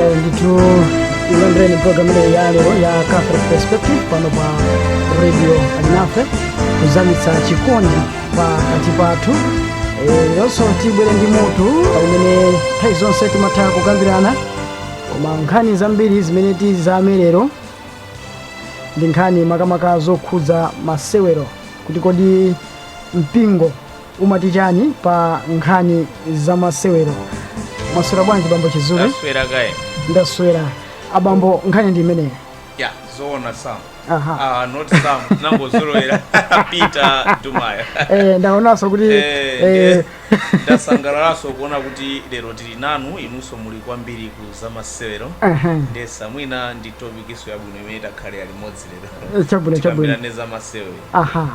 Eh, ndithu ilandeni program imeneyi ya lero ya catholic perspective pano pa radio alinafe kuzamitsa chikondi pakati pathu Eh, leronso tibwere ndi mutu umene nthawi zonse timatha kukambirana koma nkhani zambiri zimene tizame lero ndi nkhani makamaka zokhudza masewero kuti kodi mpingo umati chani pa nkhani za masewero mwaswera bwanji bambo chizule mwaswera kaya ndaswera abambo nkhani ndi imeneyo ya zoona sam aha ah, not sam nangozolowera peter dumaya eh, ndaonanso kuti Eh, eh, eh. ndasangalalanso kuona kuti lero tili nanu inunso muli kwambiri ku zamasewero Aha. nde so mwina ndi topikinso yabwino imene takhalira limodzi lero Eh, chabwino, chabwino. Tikambirane zamasewero aha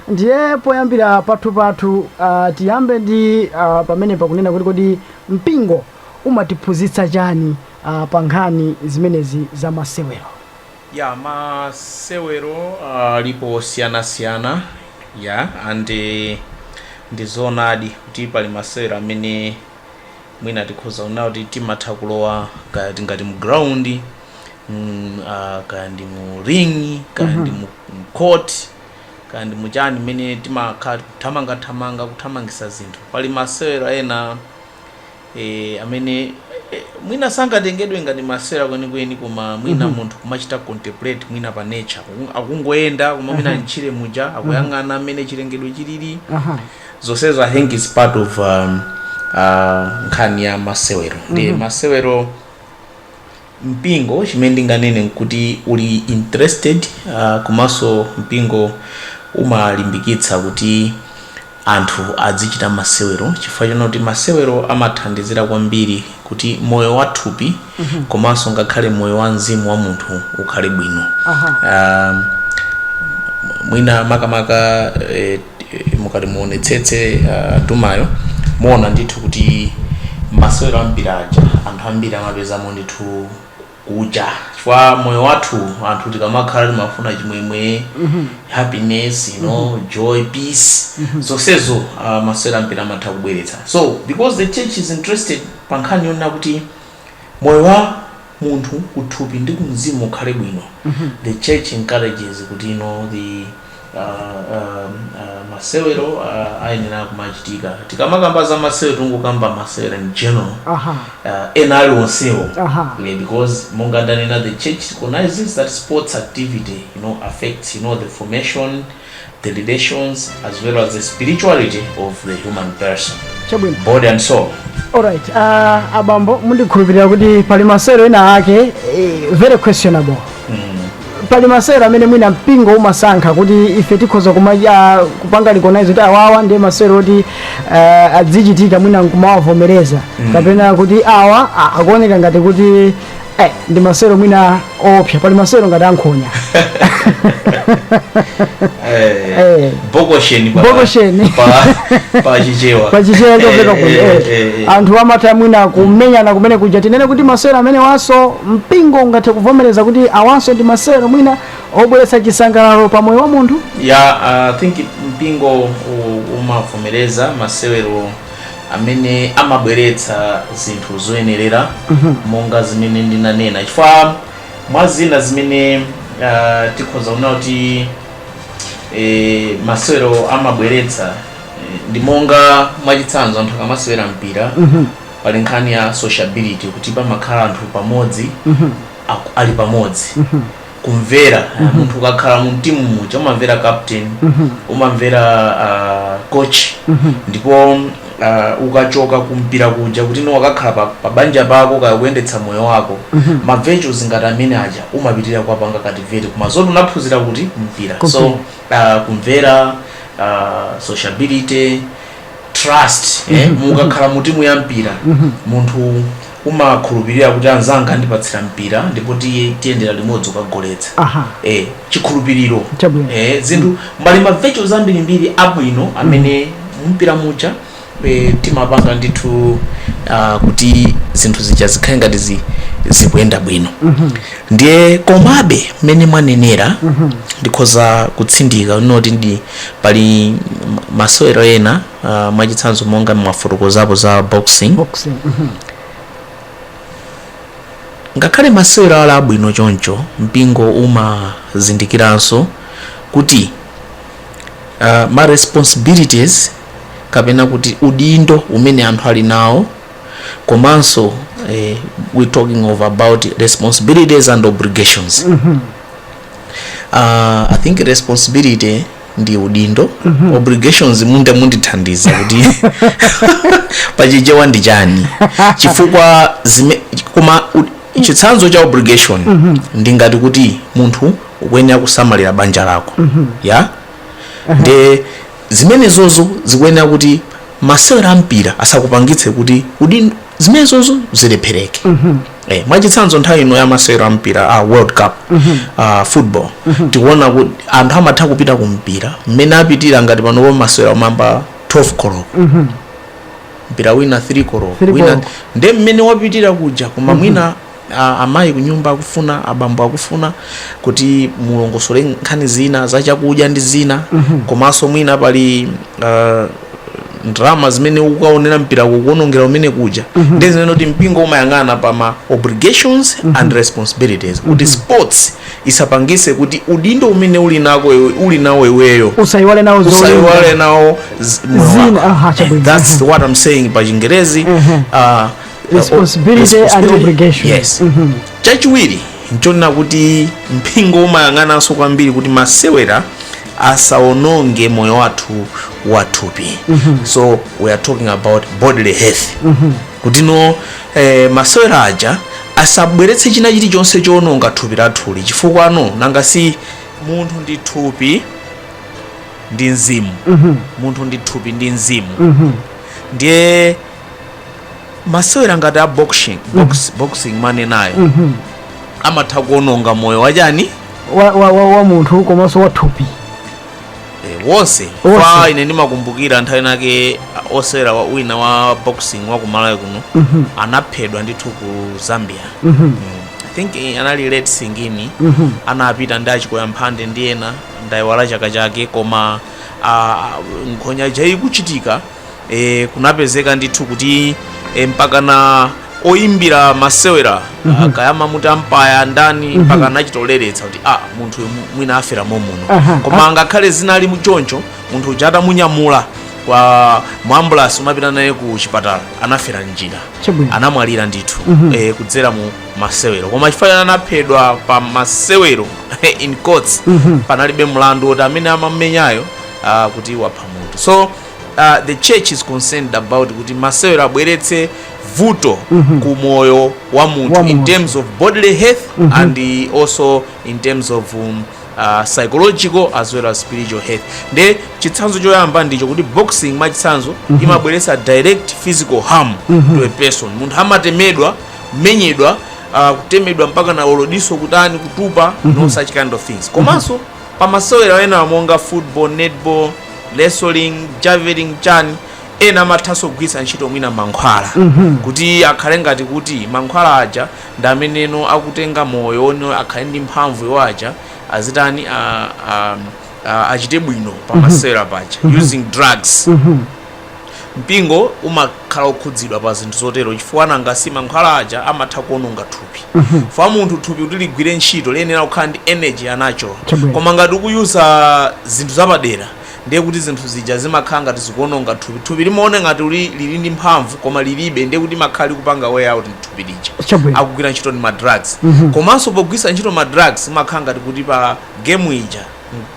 ndiye poyambira pathu pathu uh, tiyambe ndi uh, pamene pakunena kuti kodi mpingo umatiphunzitsa chani uh, pa nkhani zimenezi za masewero Yeah masewero alipo osiyana siyana yeah and nde ndizoonadi kuti pali masewero amene mwina tikhoza kunena kuti timatha kulowa kaya tingati mu ground mm, uh, kaya ndi mu ring kaya ndi mu mu court kaya ndi muchani mmene timakhala kuthamangathamanga kuthamangitsa zinthu pali masewero ena e amene e mwina sangatengedwe ngati masewero kwenikweni koma mwina mhm. munthu kumachita contemplate mwina pa nature akungoyenda koma mwina m'tchire muja akuyang'ana mmene chilengedwe chilili zonsezo i think is part of um, uh, nkhani ya masewero ndi mhm. masewero mpingo chimene ndinganene nkuti uli interested komanso mpingo umalimbikitsa kuti anthu adzichita masewero chifukwa chonena kuti masewero amathandizira kwambiri kuti moyo wa thupi komanso ngakhale moyo wa mzimu wa munthu ukhale bwino Aha. Ah, mwina makamaka eh, mukati muonetsetse uh, dumaya muona ndithu kuti masewero ambiri aja anthu ambiri amapezamo ndithu kuja chifukwa moyo wathu anthu tikamakhala timafuna chimwemwe happiness you know joy peace zonsezo uh, masewero ambiri amatha kubweretsa so because the church is interested pa nkhani yonena kuti moyo wa munthu kuthupi ndi kumzimu ukhale bwino the church encourages kuti you know the uh, um, uh, masewero uh, ayenera kumachitika tikamakamba za masewero tikukamba masewero in general aha uh, ena ali onsewo Aha. yeah, because monga ndanena the church recognizes that sports activity you know affects you know the formation the relations as well as the spirituality of the human person, chabwino body and soul. alright uh, abambo ndikukhulupirira kuti pali masewero ena ake eh, very questionable pali masewero amene mwina mpingo umasankha kuti ife tikhoza kupanga recognize kuti awawa ndiye masewero oti uh, adzichitika mwina nkumawavomereza kapena kuti awa a- akuoneka ngati kuti Eh, ndi masewero mwina oopsa pali masewero ngati ankhonya Eh, Eh. bokoseni pa- Bokoseni. pa- pa chichewa pachichewa chopeka kuno Eh, eh, eh, eh. anthu amatha mwina kumenyana kumene kuja tinene kuti masewero amenewanso mpingo ungathe kuvomereza kuti awanso ndi masewero mwina obweretsa chisangalalo pa moyo wa munthu ya i think mpingo u- umavomereza masewero amene amabweretsa zinthu zoyenerera monga zimene ndinanena chifukwa mwa zina zimene uh, tikhoza kuona kuti eh, masewero amabweretsa eh, ndi monga mwachitsanzo anthu akamasewera mpira pali nkhani ya sociability kuti pamakhala anthu pamodzi aku- ali pamodzi kumvera uh, munthu ukakhala mu timu muja umamvera captain umamvera uh, coach ndipo uh, ukachoka kumpira kuja kuti you know wakakhala pa, pa banja pako kaya kuyendetsa moyo wako ma virtues ngati amene aja umapitirira kuwapanga cultivate koma zoti unaphunzira kuti kumpira so Kumpira. uh, kumvera uh, sociability trust eh, mukakhala mu timu ya mpira munthu umakhulupirira kuti anzanga andipatsira mpira ndipo tiyendera limodzi kukagoletsa eh, chikhulupiriro eh, zinthu mbali ma virtues ambirimbiri abwino amene mumpira muja eh, timapanga ndithu uh, kuti zinthu zija zikhale ngati zi, zikuyenda bwino mhm. ndiye komabe mmene mwanenera mhm. ndikhoza kutsindika inde pali masewero ena uh, mwachitsanzo monga mwafotokozapo za boxing boxing mhm. ngakhale masewero ali abwino choncho mpingo umazindikiranso kuti uh, ma responsibilities kapena kuti udindo umene anthu ali nawo komanso eh, we talking about responsibilities and obligations uh, i think responsibility ndi udindo obligations nde mundithandiza kuti pachichewa ndi chani chifukwa zime, koma u- chitsanzo cha obligation ndi ngati kuti munthu ukuyenera kusamalira banja lako ya nde zimenezozo zikuyenera kuti masewero a mpira asakupangitse kuti udin, zimenezozo zilephereke eh, mwachitsanzo nthawi ino ya masewero a mpira a world cup a football tikuona kuti anthu amatha kupita ku mpira mmene apitira ngati panopo masewero amayamba 12 koloko mpira wina 3 koloko nde mmene wapitira kuja koma mwina Amayi kunyumba akufuna, abambo akufuna kuti mulongosole nkhani zina za chakudya ndi zina komanso mwina pali uh, ndalama zimene ukukaonera mpira ukuonongera mmene kuja nde zimene kuti mpingo umayang'ana pa ma obligations and responsibilities kuti sports isapangise kuti udindo umene uli nako iwe- uli nawo iweyo usayiwale nawo zolinga. usayiwale nawo z- moyo Zina, wako. aha, chabwino. That's what I'm saying pa chingerezi uh, responsibility and obligation Yes. Mhm. chachiwiri nchonena kuti mpingo umayang'ananso kwambiri kuti masewera asaononge moyo wathu wathupi so we are talking about bodily health kuti no eh, masewera aja asabweretse china chilichonse choononga thupi lathuli chifukwa no nanga si munthu ndi thupi ndi mzimu munthu ndi thupi ndi mzimu ndiye masewera ngati a boxing box, boxing mmanenayo amatha kuononga moyo wachani wa, wa, wa, wa munthu komanso wa thupi Eh, wonse Wonse. kwa ine ndimakumbukira nthawi inake ah, osewera wa- wina wa boxing wa kumalawi kuno anaphedwa ndithu ku zambia Mm. i think eh, anali late singini anapita ndi a Chikoya Mphande ndi ena ndayiwala chaka chake koma ah, nkhonya ija ikuchitika e, kunapezeka ndithu kuti e, mpakana oyimbira masewera mm -hmm. kaya amamuti umpire ndani mm -hmm. mpaka anachitoleretsa kuti ah, munthu uyu mwina afera momuno Aha, koma ngakhale zinali choncho munthu uja atamunyamula kwa mu ambulasi kumapita naye ku chipatala anafera m'njira Chabwino. anamwalira ndithu eh, kudzera mu masewero koma chifukwa chani anaphedwa pa masewero in courts panalibe mlandu woti amene amamumenyayo ah, kuti wapha munthu so uh, the church is concerned about kuti masewero asabweretse vuto mm -hmm. ku moyo wa munthu in terms of bodily health mm -hmm. and also in terms of um, uh, psychological as well as spiritual health nde chitsanzo choyamba ndicho kuti boxing mwachitsanzo mm -hmm. imabweretsa direct physical harm mm -hmm. to a person munthu amatemedwa kumenyedwa uh, kutemedwa mpaka nawo diso kutani kutupa mm -hmm. no mhm. such kind of things komanso mm -hmm. Pa masewera enaawa monga football, netball, wrestling, javelin chani ena amathanso kugwiritsa ntchito mwina mankhwala kuti akhale ngati kuti mankhwala aja ndi ameneno akutenga moyo wone akhale ndi mphamvu iwo aja azitani a- a- a- achite bwino pa masewera paja using drugs Mpingo umakhala wokhudzidwa pa zinthu zotero chifukwa nanga si mankhwala aja amatha kuononga thupi. Chifukwa munthu thupi kuti ligwire ntchito liyenera kukhala ndi energy ya natural. Chabwino. Koma ngati ukuyuza zinthu zapadera ndiye kuti zinthu zija zimakhala ngati zikuononga thupi. Thupi limaona ngati uli lili ndi mphamvu koma lilibe ndiye kuti limakhala likupanga wear out thupi lija. Chabwino. Likugwira ntchito ndi ma drugs. Komanso pogwiritsa ntchito ma drugs umakhala ngati kuti pa game ija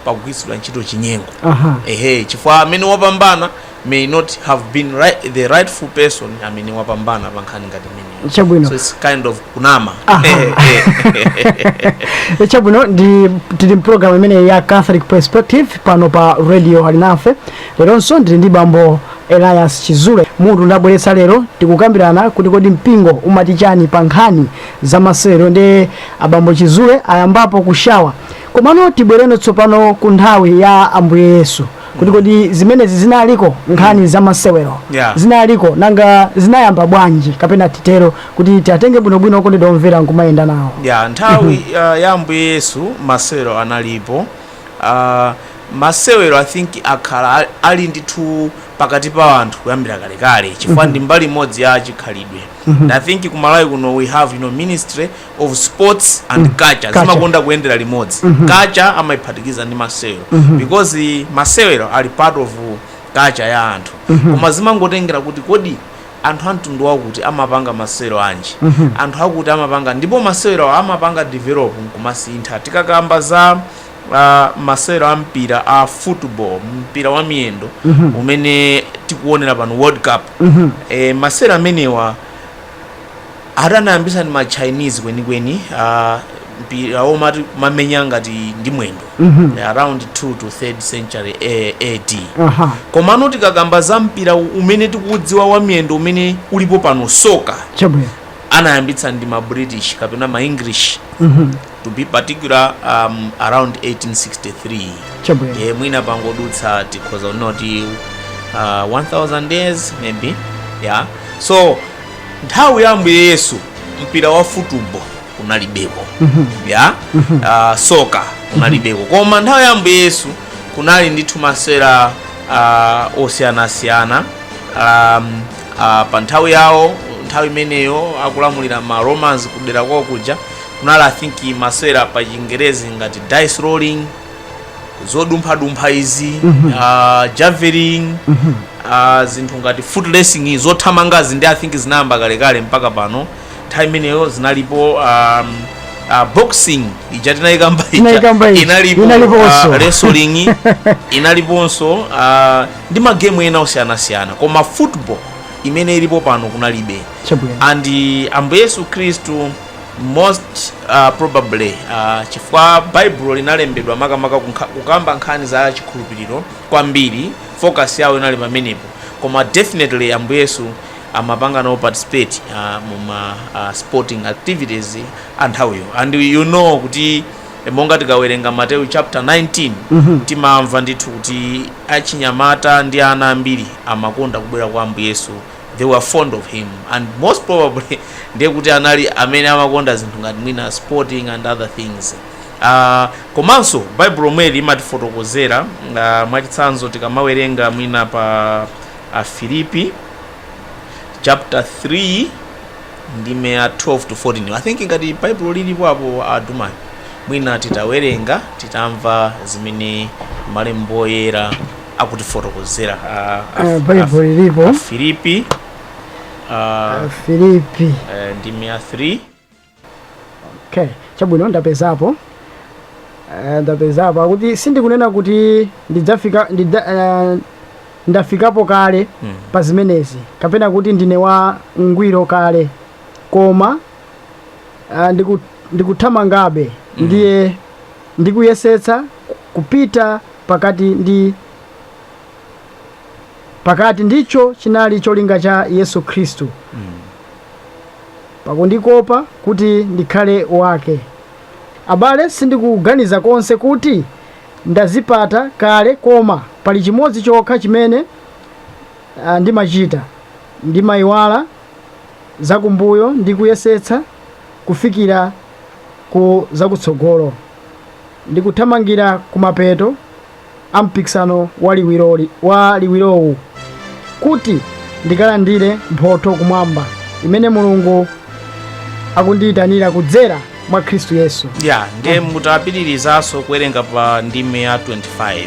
pakugwiritsidwa ntchito chinyengo Aha. ehe chifukwa amene wapambana may not have been right, the rightful person amene wapambana pa nkhani ngati imeneyo Chabwino. so it's kind of kunama Aha. Eh, eh. chabwino tili mpulogalamu imeneyi ya catholic perspective pano pa radio alinafe leronso ndili ndi bambo elias chizule mutu ndabweretsa lero tikukambirana kuti kodi mpingo umati chani pa nkhani za masewero ndi abambo chizule ayambapo kusheya Komano tibwereno tsopano ku nthawi ya Ambuye Yesu kuti kodi zimenezi zinaliko nkhani za masewero Yeah. zinaliko nanga zinayamba bwanji kapena titero kuti tiatenge bwinobwino okondedwa omvera nkumayenda nawo yeah nthawi uh, ya ambuye yesu masewero analipo uh, masewero i think akhala ali- ali ndithu pakati pa anthu kuyambira kalekale chifukwa ndi mbali imodzi ya chikhalidwe and i think kumalawi kuno we have you know, ministry of sports and mm. culture, culture. zimakonda kuyendera limodzi mm -hmm. culture amaiphatikiza ndi masewero mm -hmm. because masewero ali part of culture ya anthu mm -hmm. koma zimangotengera kuti kodi anthu amtundu wakuti amapanga masewero anji mm -hmm. anthu akuti amapanga ndipo masewero amapanga develop nkumasintha tikakamba za uh, masewero a mpira a football mpira wa miyendo mm -hmm. umene tikuonera pano world cup mm -hmm. e, masewero amenewa Ati anayambitsa ndi ma Chinese kwenikweni mpira womati kumamenya ngati ndi mwendo Mhm. Eh, around 2 to 3rd century A- AD. aha Komano tikakamba za mpira u- umene tikuudziwa wa miyendo umene ulipo pano soka chabwino anayambitsa ndi ma British kapena ma English Mhm. to be particular um, around 1863 chabwino e, mwina pangodutsa tikhoza kunena kuti uh, 1000 years maybe yeah. so nthawi ya ambuye yesu mpira wa futubo kunalibeko a uh, soka kunalibeko koma nthawi ya ambuye yesu kunali ndithu masewera uh, osiyanasiyana um, uh, pa nthawi yawo nthawi imeneyo akulamulira ma romans kudera kwawo kuja kunali i think masewera pa chingerezi ngati dice rolling zodumphadumpha izi ah, javelin ah, zinthu ngati foot racing zothamangazi ndi i think zinayamba kalekale mpaka pano nthawi imeneyo zinalipo um, ah, boxing ija tinayikamba ija inalipo ah, wrestling inaliponso ah, ndi magemu ena osiyanasiyana koma football imene ilipo pano kunalibe chabwino and ambuye yesu khristu most uh, probably uh, chifukwa baibulo linalembedwa makamaka kunkha- kukamba nkhani za chikhulupiriro kwambiri focus yawo inali pamenepo koma definitely ambuye yesu amapanga nawo participate uh, muma uh, sporting activities anthawiyo and you know kuti eh, monga tikawerenga mateyu chapter 19 Mhm. timamva ndithu kuti achinyamata ndi ana ambiri amakonda kubwera kwa ambuye yesu they were fond of him and most probably ndiye kuti anali amene amakonda zinthu ngati mwina sporting and other things uh, komanso baibulo lomweli imatifotokozera uh, mwachitsanzo tikamawerenga mwina pa afilipi chapter 3 ndime ya 12 to 14 i think ngati baibulo lilipo apo a Dumayo mwina titawerenga titamva zimene malembo oyera akutifotokozera a- a- Eh, Bible lilipo. a- Afilipi ah, filipi eh, ndime ya 3 okay chabwino ndapezapo Eh, ndapezapo akuti sindikunena kuti ndidzafika ndidza, eh, ndafikapo kale Mm. pa zimenezi kapena kuti ndine wa ngwiro kale koma eh, ndiku- ndikuthamangabe ndiye ndikuyesetsa kupita pakati ndi pakati ndicho chinali cholinga cha yesu khristu pakundikopa kuti ndikhale wake abale sindikuganiza konse kuti ndazipata kale koma pali chimodzi chokha chimene ah, ndimachita ndimayiwala zakumbuyo ndi kuyesetsa kufikira ku zakutsogolo Ndikuthamangira kumapeto a mpikisano wa liwiroli, wa liwirowu kuti ndikalandire mphotho kumwamba imene Mulungu akundiyitanira kudzera mwa Khristu Yesu. ya ndiye mutapitirizanso kuwerenga pa ndime ya 25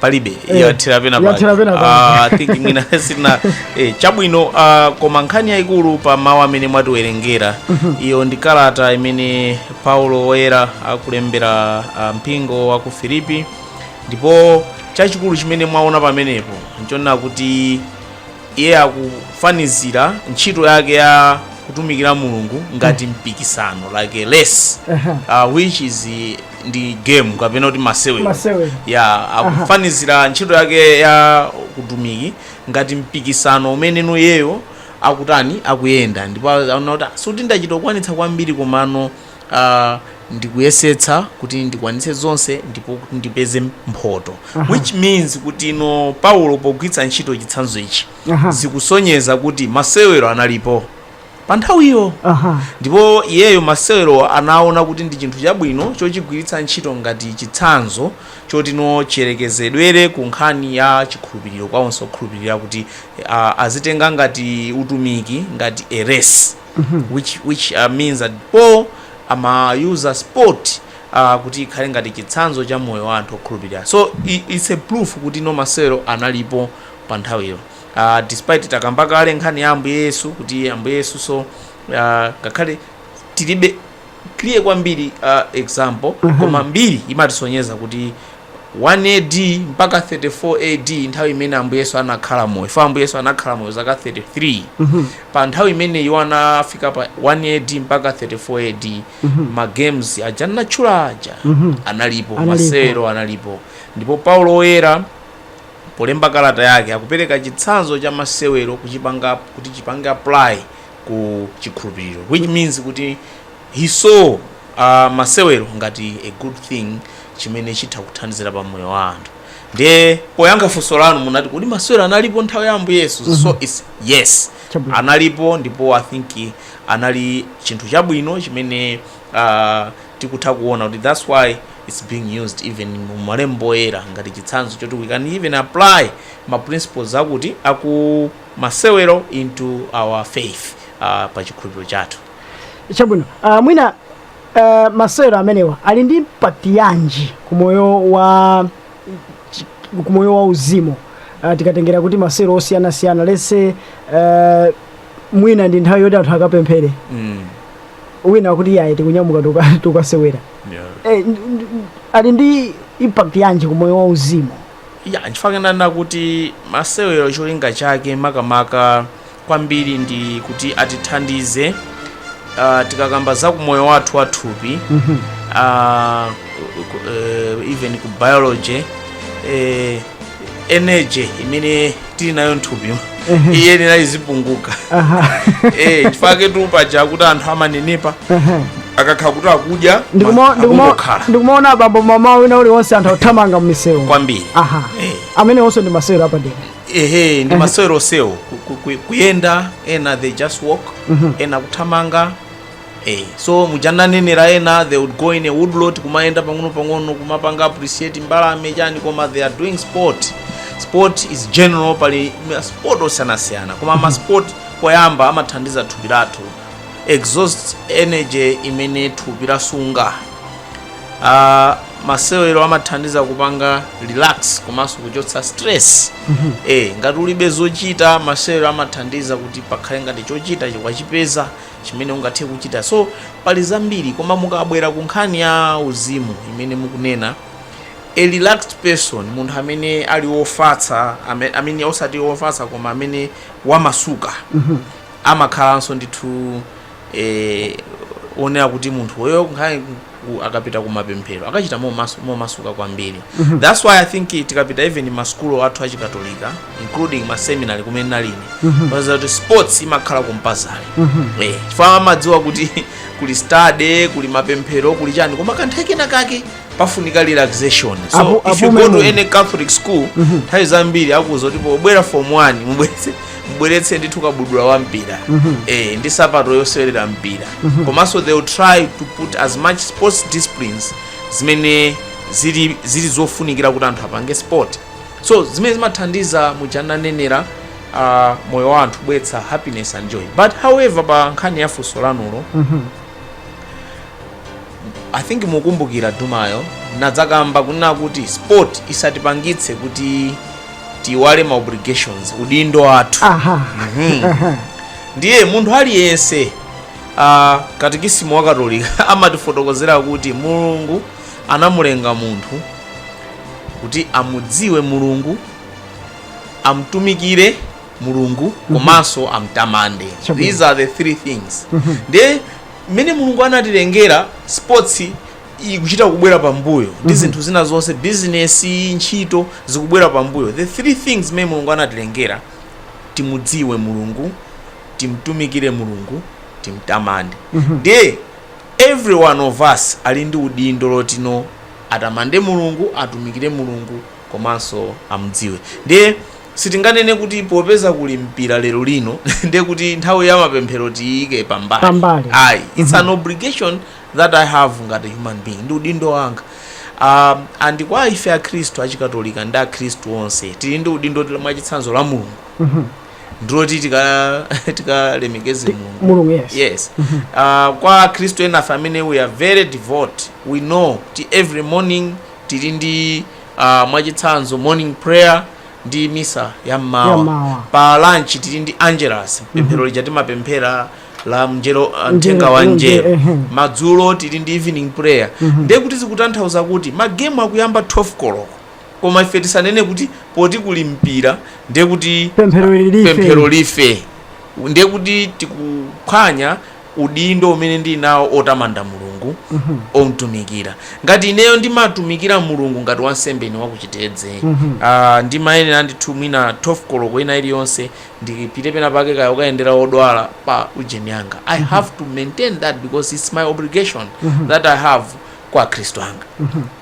palibe Eh, yathera pena yathera pena pake. Ah, I think mwina sina eh, chabwino ah, koma nkhani yayikulu pa mawu amene mwatiwerengera iyo ndi kalata imene paulo woyera akulembera ah, mpingo wa ku filipi ndipo chachikulu chimene mwaona pamenepo nchonena kuti Iye akufanizira ntchito yake ya kutumikira mulungu ngati mpikisano like a race Aha. uh, which is eh, ndi game kapena kuti masewero Masewero. ya akufanizira ntchito yake ya kutumiki ngati mpikisano umene iyeyo akutani akuyenda ndipo anaona kuti "Ah, sikuti ndachita kukwanitsa kwambiri komano uh, ndikuyesetsa kuti ndikwanitse zonse ndipo kuti ndipeze mphoto which means kuti no paulo pogwiritsa ntchito chitsanzo ichi Aha. zikusonyeza kuti masewero analipo pa nthawiyo aha ndipo iyeyo masewero anaona kuti ndi chinthu chabwino chochigwiritsa ntchito ngati chitsanzo choti no chiyerekezedwere ku nkhani ya chikhulupiriro kwa onse okhulupirira kuti a- azitenga ngati utumiki ngati race which means that Paul amayuza sport uh, kuti ikhale ngati chitsanzo cha moyo wa anthu okhulupirira so it's a proof kuti no masewero analipo pa nthawiyo uh, despite takamba kale nkhani ya ambuye yesu kuti ambuye yesu so uh, ngakhale tilibe clear kwambiri a example koma mbiri imatisonyeza kuti 1 AD mpaka 34 AD nthawi imene ambuye yesu anakhala moyo chifukwa ambuye yesu anakhala moyo zaka 33 pa nthawi imene iwo anafika pa 1 AD mpaka 34 AD ma games aja anatchula aja analipo Analipo. masewero analipo ndipo paulo woyera polemba kalata yake akupereka chitsanzo cha masewero kuchipanga kuti chipange apply ku chikhulupiriro which means kuti he saw uh, masewero ngati a good thing chimene chitha kuthandizira pa moyo wa anthu ndiye poyankha funso lanu munati kodi masewero analipo nthawi ya ambuye yesu mm -hmm. so mhm. it's yes Chabwino. analipo ndipo i think anali chinthu chabwino chimene uh, tikutha kuona kuti that's why it's being used even mu malembo oyera ngati chitsanzo choti we can even apply ma principles akuti aku masewero into our faith uh, pa chikhulupiriro chathu chabwino uh, mwina uh, masewero amenewa ali ndi impact yanji ku moyo wa chi- ku moyo wa uzimu uh, tikatengera kuti masewero osiyanasiyana let's say uh, mwina ndi nthawi yoti anthu akapemphere mm. wina akuti iyayi tikunyamuka tuka- tukasewera yeah. eh, n- n- ali ndi impact yanji ku moyo wa uzimu Ya, nchifukwa chake ndanena kuti masewero cholinga chake makamaka kwambiri ndi kuti atithandize uh, tikakamba za kumoyo wathu wa thupi uh, even ku biology eh, energy imene tili nayo nthupi iyenera kuti izipunguka Aha. eh chifukwa ketu paja kuti anthu amanenepa Aha. akakhala kuti akudya Ndikuma- ndikuma- akungokhala timaona a bambo mmawa wina uliwonse anthu akuthamanga mmisewu kwambiri aha Eh. amenewonso ndi masewero apadera ehe ndi masewerosowo Ku- ku- ku- kuyenda ena they just walk ena kuthamanga Hey, so muja ndanenera ena they would go in a woodlot kumayenda pang'ono pang'ono kumapanga appreciate mbalame chani koma they are doing sport sport is general pali ma sport osiyanasiyana koma ma sport koyamba amathandiza thupi lathu exhaust energy imene thupi lasunga uh, masewero amathandiza kupanga relax komanso kuchotsa stress eh ngati ulibe zochita masewero amathandiza kuti pakhale ngati chochita ukuchipeza chimene ungathe kuchita so pali zambiri koma mukabwera ku nkhani ya uzimu imene mukunena a relaxed person munthu amene ali wofatsa ame- amene osati wofatsa koma amene wamasuka amakhalanso ndithu eh, onera kuti munthu oyo nkhani ku akapita kumapemphero akachita momasu, momasuka kwambiri that's why i think tikapita even mmasukulu athu achikatolika including ma seminary kumene ndinali ine paja kuti sports imakhala compulsory eh chifukwa amadziwa kuti kuli study kuli mapemphero kuli chani koma kanthawi kena kake pafunika relaxation so Apo- if you apo go to memo. any catholic school nthawi zambiri akuuza kuti pobwera form 1 mubweze mubweretse ndithu kabudula wa mpira eh, ndi sapato yosewerera mpira komanso they will try to put as much sports disciplines zimene zili, zili zofunikira kuti anthu apange sport so zimene zimathandiza muja nanenera uh, moyo wa anthu kubweretsa happiness and joy but however pa nkhani ya funso lanulo I think mukumbukira ndimayo ndadzakamba kunena kuti sport isatipangitse kuti tiiwale ma obligations udindo wathu aha Mhm. aha ndiye munthu aliyense uh, katikisimu wa katolika amatifotokozera kuti mulungu anamulenga munthu kuti amudziwe mulungu amtumikire mulungu komanso amtamande Chabwino. these are the three things ndiye zimene mulungu anatilengera sports ikuchita kubwera pambuyo ndi zinthu zina zonse bizinesi ntchito zikubwera pambuyo the three things zimene mulungu anatilengera timudziwe mulungu timtumikire mulungu timtamande ndiye every one of us ali ndi udindo woti atamande mulungu atumikire mulungu komanso amdziwe ndiye Sitinganene kuti popeza kuli mpira lero lino ndiye kuti nthawi ya mapemphero tiyiike pambali. Pambali. Ayi, it's an obligation that I have ngati human being. Ndi udindo wanga. Um, and kwa ife akhristu achikatolika ndi akhristu onse tili ndi udindo mwachitsanzo lamulo la mulungu ndiloti tika- tikalemekeze mulungu Mulungu, yes. yes uh, kwa akhristu enafe amene we are very devout we know ti every morning tili ndi uh, mwachitsanzo morning prayer ndi misa ya mmawa Yammawa. pa lunch tili ndi angelus pemphero lija timapemphera la mnjero uh, mthenga wa Mnjero, mnjero ehe. madzulo tili ndi evening prayer ndiye kuti zikutanthauza kuti magemu akuyamba 12 koloko koma ife tisanene kuti poti kuli mpira ndiye kuti pemphero ili life, pemphero life ndiye kuti tikuphwanya udindo umene ndili nawo otamanda Mulungu, omtumikira. Ngati ineyo ndimatumikira Mulungu ngati wansembe ine waku Chitedze, aah ndimayenera ndithu mwina 12 koloko ina iliyonse ndipite pena pake kaya kukayendera odwala pa ujeni anga. I have to maintain that because it's my obligation that I have kwa akhristu anga.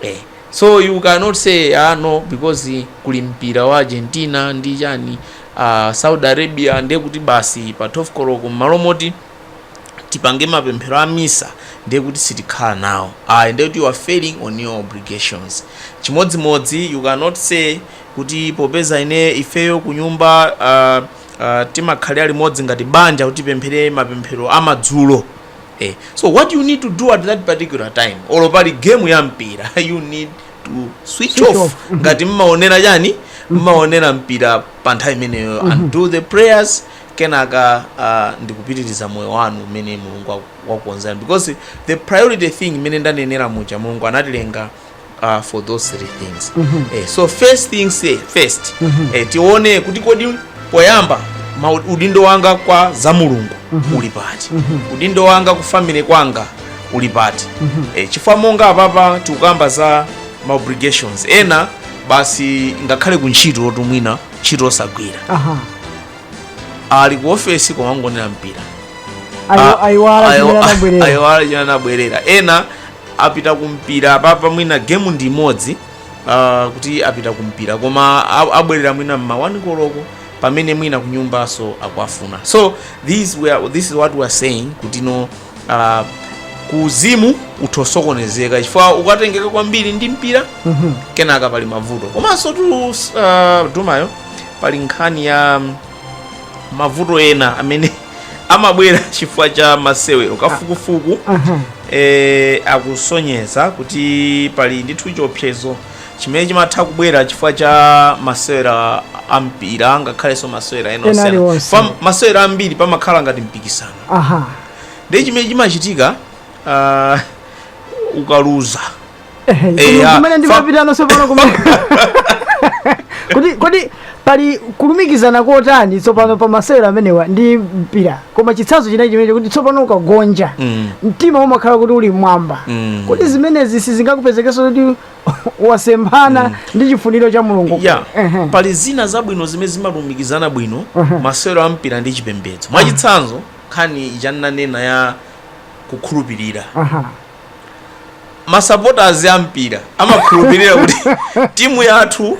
Eh. So you cannot say aah no because kuli mpira wa Argentina ndi chani. A Saudi Arabia ndiye kuti basi pa 12 koloko m'malo moti tipange mapemphero a misa ndiye kuti sitikhala nawo ayi, ndiye kuti you are failing on your obligations. Chimodzimodzi you cannot say kuti popeza ine ifeyo kunyumba uh, uh, timakhala limodzi ngati banja kuti tipemphere mapemphero a madzulo eh. So what you need to do at that particular time, olo pali game ya mpira you need to switch Switch off off. Mhm. ngati mmaonera chani mmaonera mpira pa nthawi imeneyo and do the prayers kenaka uh, ndikupitiriza moyo wanu umene mulungu waku- wakukonzerani because the priority thing imene ndanenera muja mulungu anatilenga uh, for those three things eh, so first things eh, first eh, tione kuti kodi poyamba ma udindo wanga kwa za mulungu uli pati udindo wanga ku family kwanga uli pati e, chifukwa monga apapa tikukamba za ma obligations ena basi ngakhale ku ntchito oti mwina ntchito osagwira aha ali ku ofesi koma angonera mpira Ayo- Ah, ayiwala ayo- chimene anabwerera ayiwala chimene anabwerera ena apita kumpira apapa mwina gemu ndi imodzi ah, kuti apita kumpira koma a- abwerera mwina mma 11 koloko pamene mwina kunyumbanso akuwafuna so this, we are, this is what we are saying kuti no uh, kuuzimu utha kusokonezeka chifukwa ukatengeka kwambiri ndi mpira Mhm. kenaka pali mavuto komanso tu uh, adumayo pali nkhani ya um, mavuto ena amene amabwera chifukwa cha masewero kafukufuku Aha. eh, akusonyeza kuti pali ndithu chiopsezo chimene chimatha kubwera chifukwa cha masewero ampira angakhalenso masewero ena Ena osiyana. aliwonse. Pa masewero ambiri pamakhala ngati mpikisano aha ndiye chimene chimachitika ah, ukaluza Ehe, Eh, kodi ah, kumene fa- ndimapita tsopano kumene kodi kodi pali kulumikizana kotani tsopano pa masewero amenewa ndi mpira koma chitsanzo chinayi chimene kuti tsopano ukagonja Mm. mtima umakhala kuti uli m'mwamba Mm. kodi zimenezi sizingakupezekenso kuti wasemphana ndi chifuniro cha mulungu ya Ehe. pali zina zabwino zimene zimalumikizana bwino masewero a mpira ndi chipembedzo mwachitsanzo nkhani ndinanena ya kukhulupirira Aha. masapotazi a mpira amakhulupirira kuti timu yathu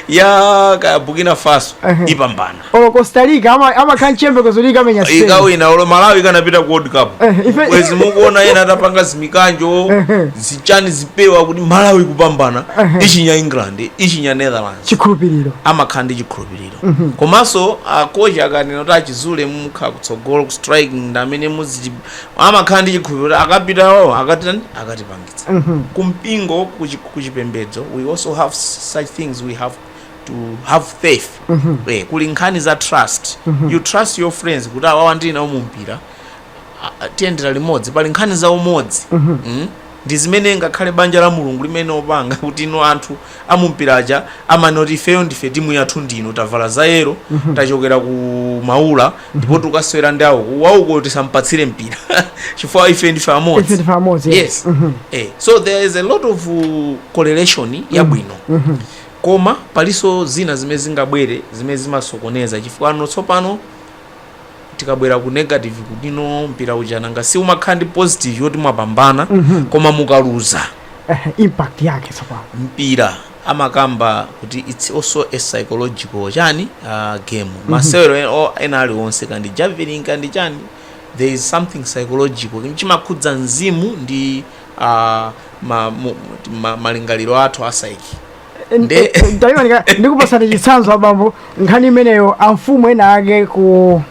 ya ka burkina faso ipambana olo costa rica ama- amakhala mchiyembekezo kuti ikamenya spain ikawina olo malawi ikanapita ku world cup Eh, bwezi mukuona ena atapanga zimikanjo zichani zipewa kuti malawi ikupambana ichinya england ichinya netherlands chikhulupiriro amakhala ndi chikhulupiriro komanso akochi akanena kuti achizule mukhala kutsogolo ku striking ndi amene amakhala ndi chikhulupiriro akapita wawo akatani akatipangitsa kumpingo kuchi- kuchipembedzo we also have such things we have to have faith eh, kuli nkhani za trust you trust your friends kuti awawa ndili nawo mu mpira a- a- tiyendera limodzi pali nkhani za umodzi Mm? ndi zimene ngakhale banja la mulungu limene opanga kuti ino anthu amumpira aja amanena kuti ifeyo ndife timu yathu ndino tavala za yero tachokera ku maula ndipo tikasewera ndi auku wauko tisampatsire mpira chifukwa ife ndife amodzi Ife ndife amodzi, yes. yes Mhm. eh, so there is a lot of uh, correlation yabwino Mhm. koma palinso zina zimene zingabwere zimene zimasokoneza chifukwa pano tsopano tikabwera ku negative kutino mpira uja nanga si umakhala ndi positive yoti mwapambana Mhm. koma mukaluza Eh, impact yake tsopano mpira amakamba kuti its also a psychological chani uh, game masewero en- o- ena aliwonse kandi javelin kandi chani there is something psychological chimakhudza mzimu ndi uh, ma, mu- ma, malingaliro athu a psyche Nde- ndikupatsani chitsanzo abambo nkhani imeneyo amfumu ena ake ku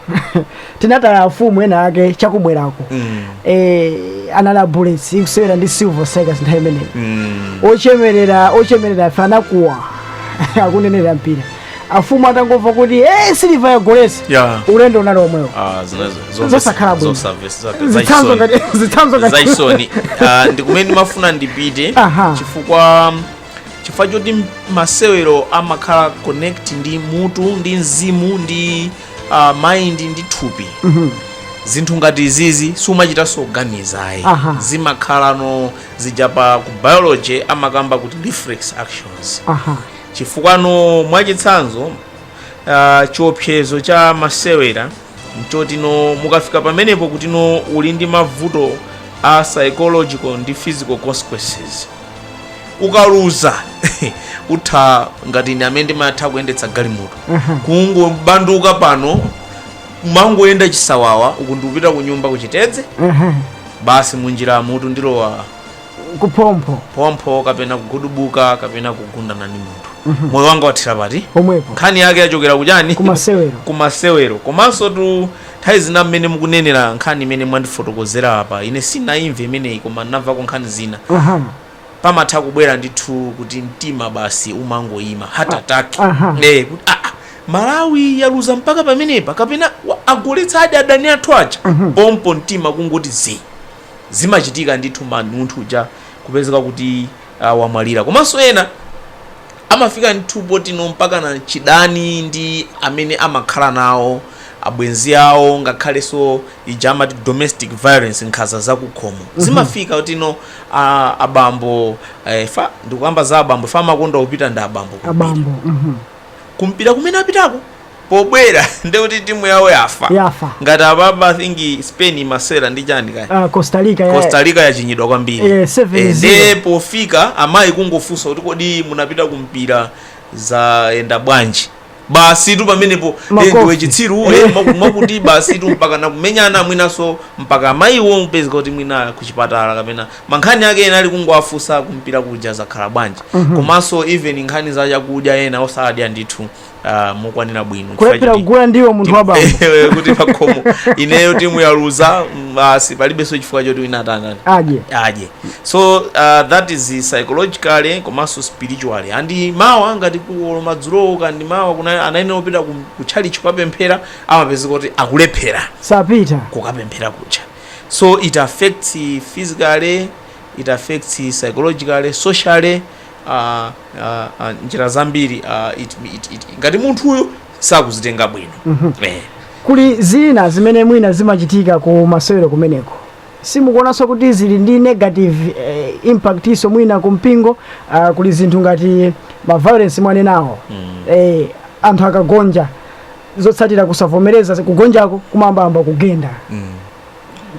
tinataya amfumu ena ake chakubwerako Mm. eh, anali a bullets ikusewera ndi silver strikers nthawi imeneyo Mm. ochemerera ochemerera ife anakuwa akuonera mpira amfumu atangomva kuti eh, siliva yagoletsa Yeah. ulendo unali omwewo Ah, zinazo- zonse- Zosakhala bwino. zosafe- zisake- zitsanzo zachisoni. ngati zitsanzo ngati zachisoni Ah, ndikumene ndimafuna ndipite Aha. chifukwa chifukwa choti m- masewero amakhala connected ndi mutu ndi mzimu ndi uh, mind ndi thupi zinthu ngati izizi siumachitanso kuganiza ayi Aha. zimakhala no zija pa ku biology amakamba kuti reflex actions aha chifukwa no mwachitsanzo uh, chiopsezo cha masewera mchoti no mukafika pamenepo kuti no uli ndi mavuto a psychological ndi physical consequences ukaluza utha ngati ine amene ndimatha kuyendetsa galimoto kungobanduka pano ndimangoyenda chisawawa uku ndikupita ku nyumba kuchitedze basi munjira mutu ndilowa kuphompho phompho kapena kugudubuka kapena kugundana ndi munthu moyo wanga wathira pati pomwepo nkhani yake yachokera kuchani Kumasewero. kumasewero komanso tu Nthawi zina mmene mukunenera nkhani imene mwandifotokozera apa, ine sinayimve imeneyi koma ndinamvako nkhani zina, pamatha kubwera ndithu kuti mtima basi umangoyima, heart attack, eeh kuti aah Malawi yaluza mpaka pamenepa kapena agoletsadi adani athu aja, pompho mtima kungoti zii. Zimachitika ndithu man, munthu uja kupezeka kuti. uh, wamwalira komanso ena amafika ndithu potino mpakana chidani ndi amene amakhala nawo abwenzi awo ngakhalenso ija amati domestic violence nkhaza zakukhomo zimafika kuti no a- abambo eh, fa ndikukamba za abambo fa amakonda kupita ndi abambo kumpira. abambo mhm. kumpira kumene apitako Pobwera ndiye kuti timu yawo yafa. Yafa. Ngati apapa I think Spain imasewera ndi chani kaya. Uh, Costa Rica ya Costa Rica yachinyidwa kwambiri. Eh, 7-0. Eh, ndiye pofika amayi kungofunsa kuti kodi munapita kumpira zayenda bwanji. Basitu pamenepo eh, Makofi. ndiwe chitsiru iwe Eh. mwaku- mwakuti basitu mpaka nakumenyana mwinanso mpaka amayiwo kupezeka kuti mwina kuchipatala kapena mankhani ake ena ali kungowafunsa kumpira kuja zakhala bwanji. Komanso even nkhani za chakudya ena osadya ndithu ah, mokwanira bwino Chifukwa kulephera choti- kugula ndiwo munthu wa bambo Eh, kuti pakhomo ineyo timu yaluza mm, basi palibenso chifukwa choti wina atangani adye adye so uh, that is psychologically komanso spiritually and mawa ngati kuolo madzulowo and mawa kuna anayenera kupita ku- ku tchalitchi kukapemphera amapezeka kuti akulephera sapita kukapemphera kucha so it affects physically it affects psychologically socially a, a, a, njira zambiri a, it, it, it, ngati munthuyo sakuzitenga bwino eh. kuli zina zimene mwina zimachitika ku masewero kumeneko simukuonanso kuti zili ndi negative eh, impactinso mwina ku mpingo ah, kuli zinthu ngati ma violence mwanenawo eh, anthu akagonja zotsatira kusavomereza kugonjako kumayambayamba kugenda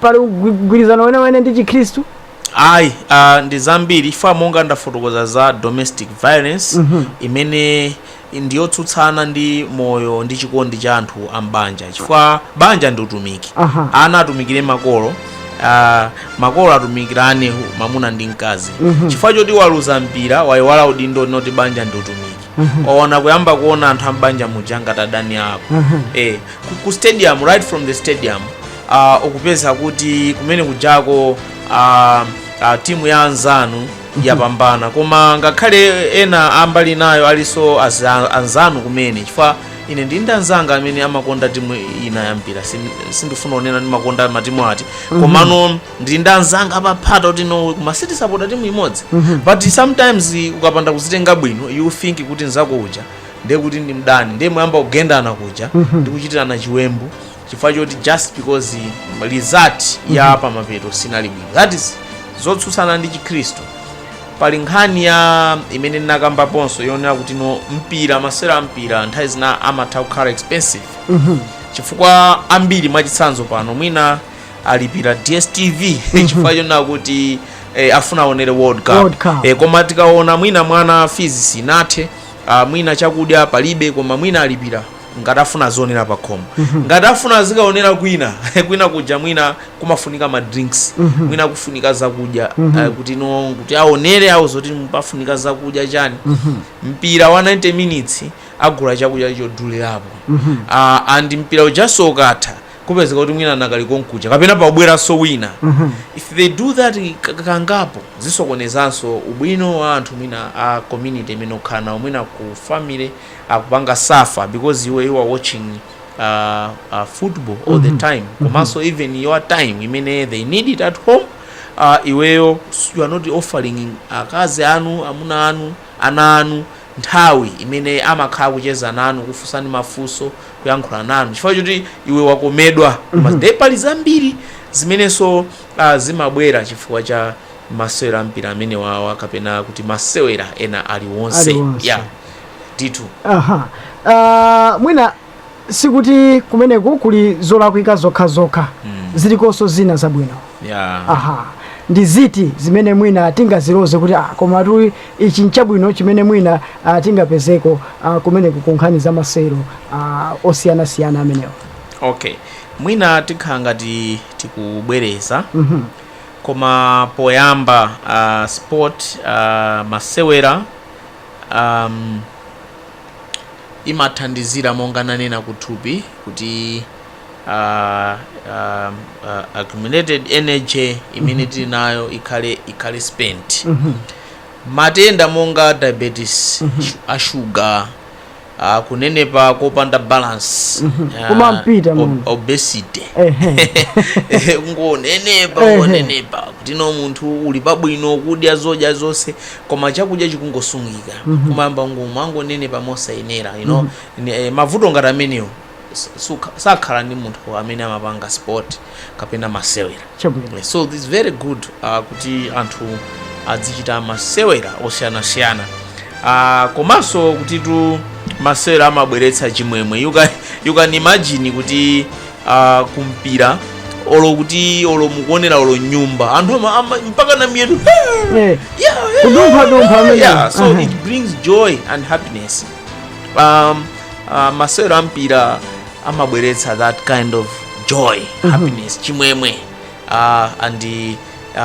pali ugwi- mgwirizano wenewene ndi chikhristu Ayi, ah, ndi zambiri chifukwa monga ndafotokoza za domestic violence imene ndiyotsutsana ndi moyo ndi chikondi cha anthu a m'banja chifukwa banja ndi utumiki Aha. ana atumikire makolo ah, makolo atumikirane mamuna ndi mkazi chifukwa choti waluza mpira wayiwala udindo woti banja ndi utumiki waona kuyamba kuona anthu ambanja muja ngati adani ako eh, ku, ku stadium right from the stadium uh, ukupeza kuti kumene kujako uh, uh, timu ya anzanu yapambana koma ngakhale ena a mbali inayo alinso aza- anzanu kumene chifukwa ine ndili ndi anzanga amene amakonda timu ina yampira Sin- sindifuna kunena ndimakonda matimu ati komano ndili ndi anzanga apaphata kuti no koma sitisapota timu imodzi but sometimes ukapanda kuzitenga bwino you think kuti nzako uja ndiye kuti ndi mdani ndiye mumayamba kugendana kuja ndi kuchitirana chiwembu chifukwa choti just because result ya pamapeto sinali bwino that is zotsutsana ndi chikhristu pali nkhani ya imene ndinakambaponso yonena kuti no mpira masewera a mpira nthawi zina amatha kukhala expensive chifukwa ambiri mwachitsanzo pano mwina alipira dstv chifukwa chonena kuti eh, afuna aonere world cup, World Cup. Eh, koma tikaona mwina mwana fees sinathe ah, mwina chakudya palibe koma mwina alipira ngati afuna azionera pa khomo ngati afuna azikaonera kwina kwina kuja mwina kumafunika ma drinks mwina kufunika zakudya eh, kuti no kuti aonere awo zoti pafunika zakudya chani mpira wa 90 minutes agula chakudya chodulirapo Ah, and mpira ujanso ukatha kupezeka kuti mwina anakali konkuja kapena pakubweranso mwina if they do that kangapo zisokonezanso ubwino wa anthu mwina a community imene ukhala nawo mwina ku family akupanga suffer because iwe you are watching uh, uh, football all the time komanso even your time imene they need it at home uh, iweyo you are not offering akazi anu amuna anu ana anu nthawi imene amakhala kucheza nanu kufunsani mafunso kuyankhula nanu chifukwa choti iwe wakomedwa ndiye pali zambiri zimenenso uh, zimabwera chifukwa cha masewera ampira amenewawa kapena kuti masewera ena aliwonse ya yeah. ditu aha uh, mwina sikuti kumeneko kuli zolakwika zokhazokha mm. zilikonso zina zabwino yeah. aha ndi ziti zimene mwina tingaziloze kuti ah, koma tu ichi nchabwino chimene mwina ah, tingapezeko ah, kumeneko ku nkhani za masewero ah, osiyanasiyana amenewo okay mwina tikhala ngati tikubwereza Mhm. koma poyamba uh, sport uh, masewera um, imathandizira monga nanena kuthupi kuti uh, um, uh, accumulated energy imene mhm. tili nayo ikhale ikhale spent mhm. matenda monga diabetes mhm. ashuga Ah, kunenepa kopanda balance Ah, Kumampita ob- munthu. obesity Ehe. ungonenepa Ehe. ngonenepa kuti no munthu uli pabwino kudya zodya zonse koma chakudya chikungosungika kumayamba kumangonenepa mosayenera you know Ni- eh, mavuto ngati amenewo sakhala ndi munthu amene amapanga sport kapena masewera so its very good uh, kuti anthu adzichita masewera osiyanasiyana uh, komanso kutitu masewera amabweretsa chimwemwe you can, you can imagine kuti uh, kumpira olo kuti olo mukuonera olo m'nyumba anthu mpaka na miyendo kudumphadumpha so it brings joy and happiness um, uh, masewero ampira amabweretsa that kind of joy happiness chimwemwe uh, and uh,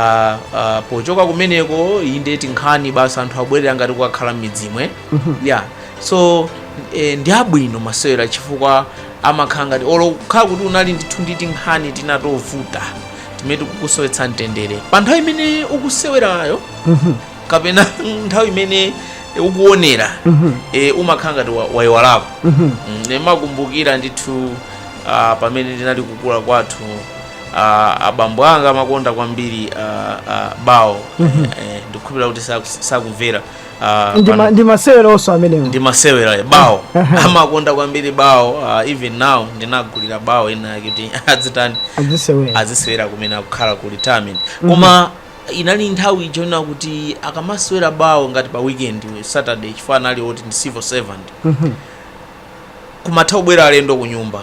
uh, pochoka kumeneko inde tinkhani basi anthu abwerera ngati kukakhala m'midzimo yeah so eh, ndi abwino masewero chifukwa amakhala ngati olo kukhala kuti unali ndithu ndi tinkhani tina tovuta timene tikusowetsa mtendere pa nthawi imene ukusewerayo kapena nthawi imene ukuonera e, umakhala ngati wa- wayiwalako Mm, ndimakumbukira ndithu ah, pamene ndinali kukula kwathu ah, abambo anga amakonda kwambiri ah, ah, bawo Eh, eh, ndikukhulupirira kuti saku- sakumvera ah, ndi pano. ma- ndi masewero onse amenewo ndi masewera bawo amakonda kwambiri bawo ah, even now ndinagulira bawo inayake kuti adzitani azisewera azisewera kumene akukhala ku retirement koma Inali nthawi ija yonena kuti akamasewera bawo ngati pa weekend Saturday chifukwa anali oti ndi civil servant kumatha kubwera alendo ku nyumba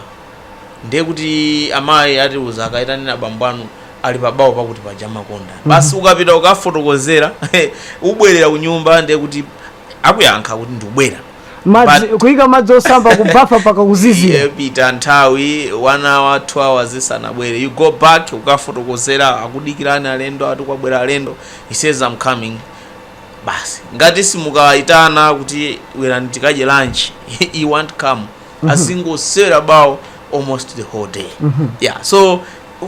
ndiye kuti amayi atiuza kaitaneni abambo anu ali pa bawo pakuti paja amakonda basi ukapita kukafotokozera ubwerera ku nyumba ndiye kuti akuyankha kuti ndikubwera madzi kuyika madzi osamba ku bafa mpaka kuzizira ipita nthawi one hour two hours isanabwere you go back ukafotokozera akudikirani alendo ati kwabwera alendo he says i'm coming basi ngati simukayitana kuti bwerani tikadye lunch he won't come azingosewera bawo almost the whole day yeah so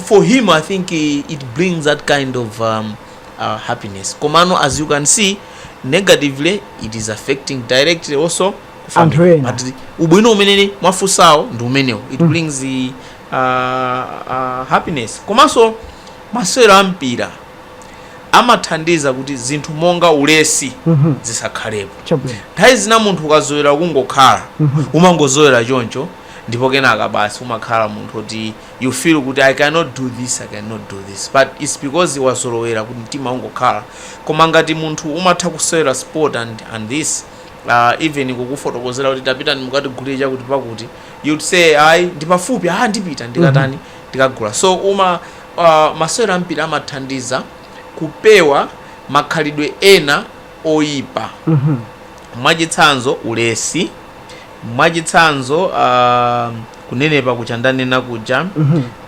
for him i think eh, it brings that kind of um, ah happiness komano as you can see negatively it is affecting directly also ku family. Anthu ena. but ubwino umene mwafunsawo ndi umenewo it brings the, uh, uh, happiness komanso masewero a mpira amathandiza kuti zinthu monga ulesi zisakhalepo nthawi zina munthu ukazowera kungokhala umangozowera choncho ndipo kenaka basi umakhala munthu oti you feel kuti I cannot do this I cannot do this but it's because wazolowera kuti mtima ungokhala koma ngati munthu umatha kusewera sport and, and this uh, even kukufotokozera kuti tapitani mukatigulire chakuti pakuti you'd say ayi ndipafupi ah ndipita ndikatani ndikagula so uma uh, masewero ampira amathandiza kupewa makhalidwe ena oyipa mwachitsanzo ulesi mwachitsanzo uh, kunenepa kuja ndanena kuja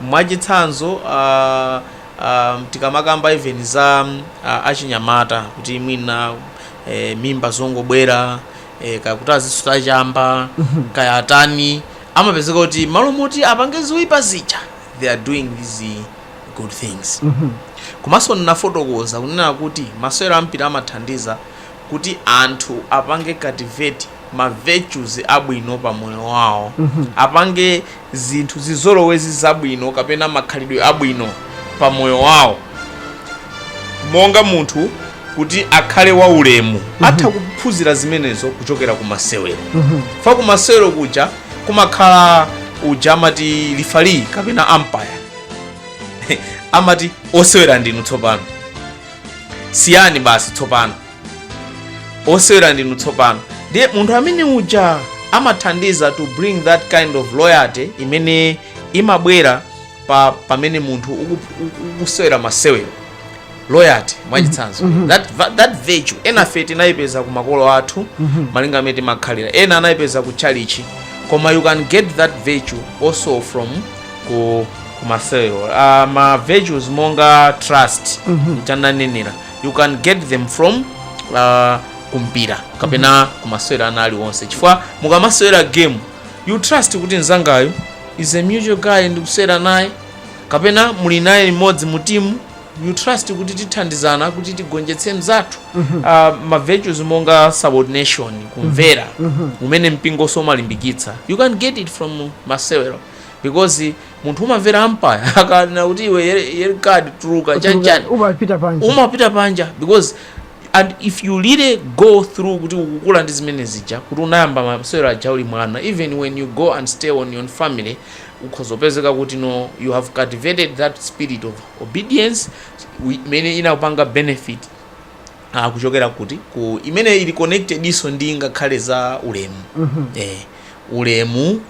mwachitsanzo ah, ah, tikamakamba even za ah, achinyamata kuti mwina eh, mimba zongobwera eh, kaya kuti azisuta chamba kaya atani amapezeka kuti m'malo moti apange zoyipa zija they are doing these good things komanso ndinafotokoza kunena kuti masewero ampira amathandiza kuti anthu apange cultivate ma virtues abwino pa moyo wawo, apange zinthu, zizolowezi zabwino kapena makhalidwe abwino pa moyo wawo monga munthu kuti akhale wa ulemu atha kuphunzira zimenezo kuchokera ku masewero pa ku masewero kuja kumakhala uja amati lifali kapena umpire amati osewera ndinu tsopano siyani basi tsopano osewera ndinu tsopano ndiye munthu amene uja amathandiza to bring that kind of loyalty imene imabwera pa pamene munthu uku- uku- ukusewera masewero loyalty mwachitsanzo that, va- that virtue enafe tinayipeza ku makolo athu malinga mmene timakhalira ena anayipeza ku tchalitchi koma you can get that virtue also from ku, ku masewero uh, ma virtues monga trust mchananenera you can get them from uh, kumpira kapena mm -hmm. kumasewera ana aliwonse chifukwa mukamasewera game you trust kuti mzangayo is a mutual guy ndikusewera naye kapena muli naye limodzi mu timu you trust kuti tithandizana kuti tigonjetse mzathu mm -hmm. uh, ma virtues monga subordination kumvera mm -hmm. umene mpingoso umalimbikitsa you can get it from masewero because munthu umamvera ampaya akanena kuti iwe yel- yellow card tuluka chanichani umapita panja umapita panja because and if you really go through kuti ukukula ndi zimene zija kuti unayamba masewero aja uli mwana even when you go and stay on your family ukhoza kupezeka kuti no you have cultivated that spirit of obedience wi- imene inakupanga benefit ah, kuchokera kuti ku imene ili connected-so ndi ngakhale za ulemu eh, ulemu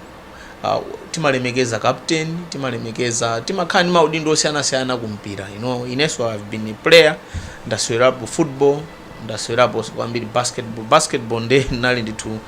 uh, timalemekeza captain timalemekeza timakhala ndi maudindo osiyanasiyana ku mpira you know, inenso I've been a player ndasewerapo football ndasewerapo kwambiri basketball basketball nde nali ndithu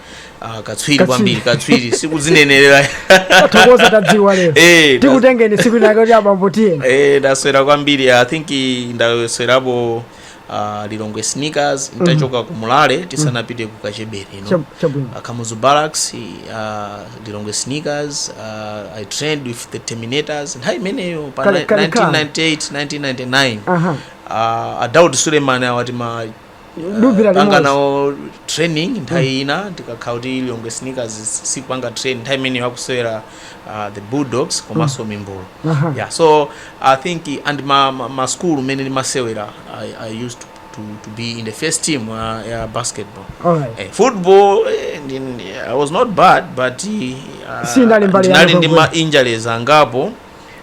uh, katswiri kwambiri katswiri sikudzinenerera tathokoza tadziwa lero Eh, tikutengeni tsiku linalake kuti abambo tiyeni eh, ndasewera kwambiri i think ndasewerapo uh, lilongwe sneakers ntachoka ku mulale tisanapite ku kachebere kuno Chab- chabwino uh, kamuzu barracks uh, lilongwe sneakers uh, i trained with the terminators nthawi imeneyo pa Kale- ni- kale ka. 1998 1999 aha uh, adaud suleiman awati ma Dubi la panga limodzi. nawo training nthawi ina tikakhala kuti lilongwe sneakers sikupanga training nthawi imeneyo akusewera uh, the bulldogs komanso mimbulu Aha. yeah so i think and ma, ma, ma school mene ndimasewera I, i used to, to, to be in the first team uh, ya basketball Alright. eh, football eh, ndi- ndi- i was not bad but uh, Si ndali mbali ya ndinali ndi Liverpool. ma injuries angapo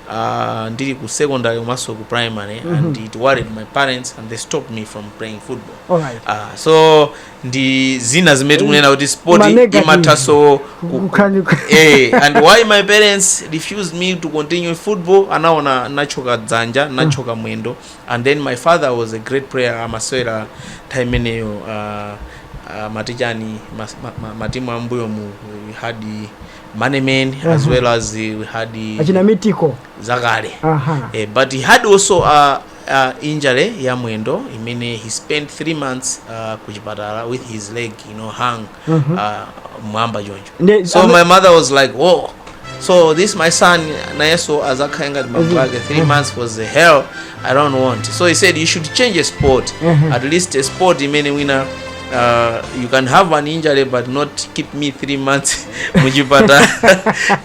Uh, ndili ku secondary komanso ku primary and it worried my parents and they stopped me from playing football Alright. uh, so ndi zina zimene tikunena kuti sport Ma negative. imathaso ku- Kukhani- eh, and why my parents refused me to continue football anaona natchoka dzanja natchoka mwendo and then my father was a great player amasewera nthawi imeneyo uh, uh, matichani mas- ma- ma- matimu ambuyo mu we had manemen as well as we had achina mitiko zakale aha eh, but he had also uh, a injury ya mwendo imene he spent 3 months uh, ku chipatala with his leg you know hung uh, mwamba choncho Nde- so ame- my mother was like oh so this my son nayeso azakhale ngati bambo ake 3 months was the hell i don't want so he said you should change a sport at least a sport imene wina uh, you can have an injury but not keep me 3 months muchipatala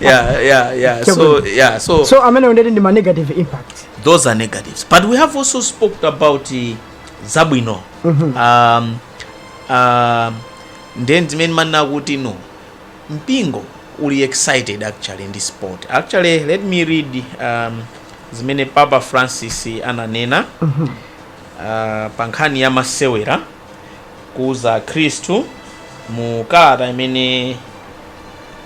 yeah yeah yeah so yeah so so amene undeti ndi ma negative impact those are negatives but we have also spoke about eh, zabwino um, um, nde ndi zimene ndimanena kuti no mpingo uli excited actually ndi sport actually let me read um, zimene papa francis ananena uh, pa nkhani ya masewera kuuza akhristu mu kalata imene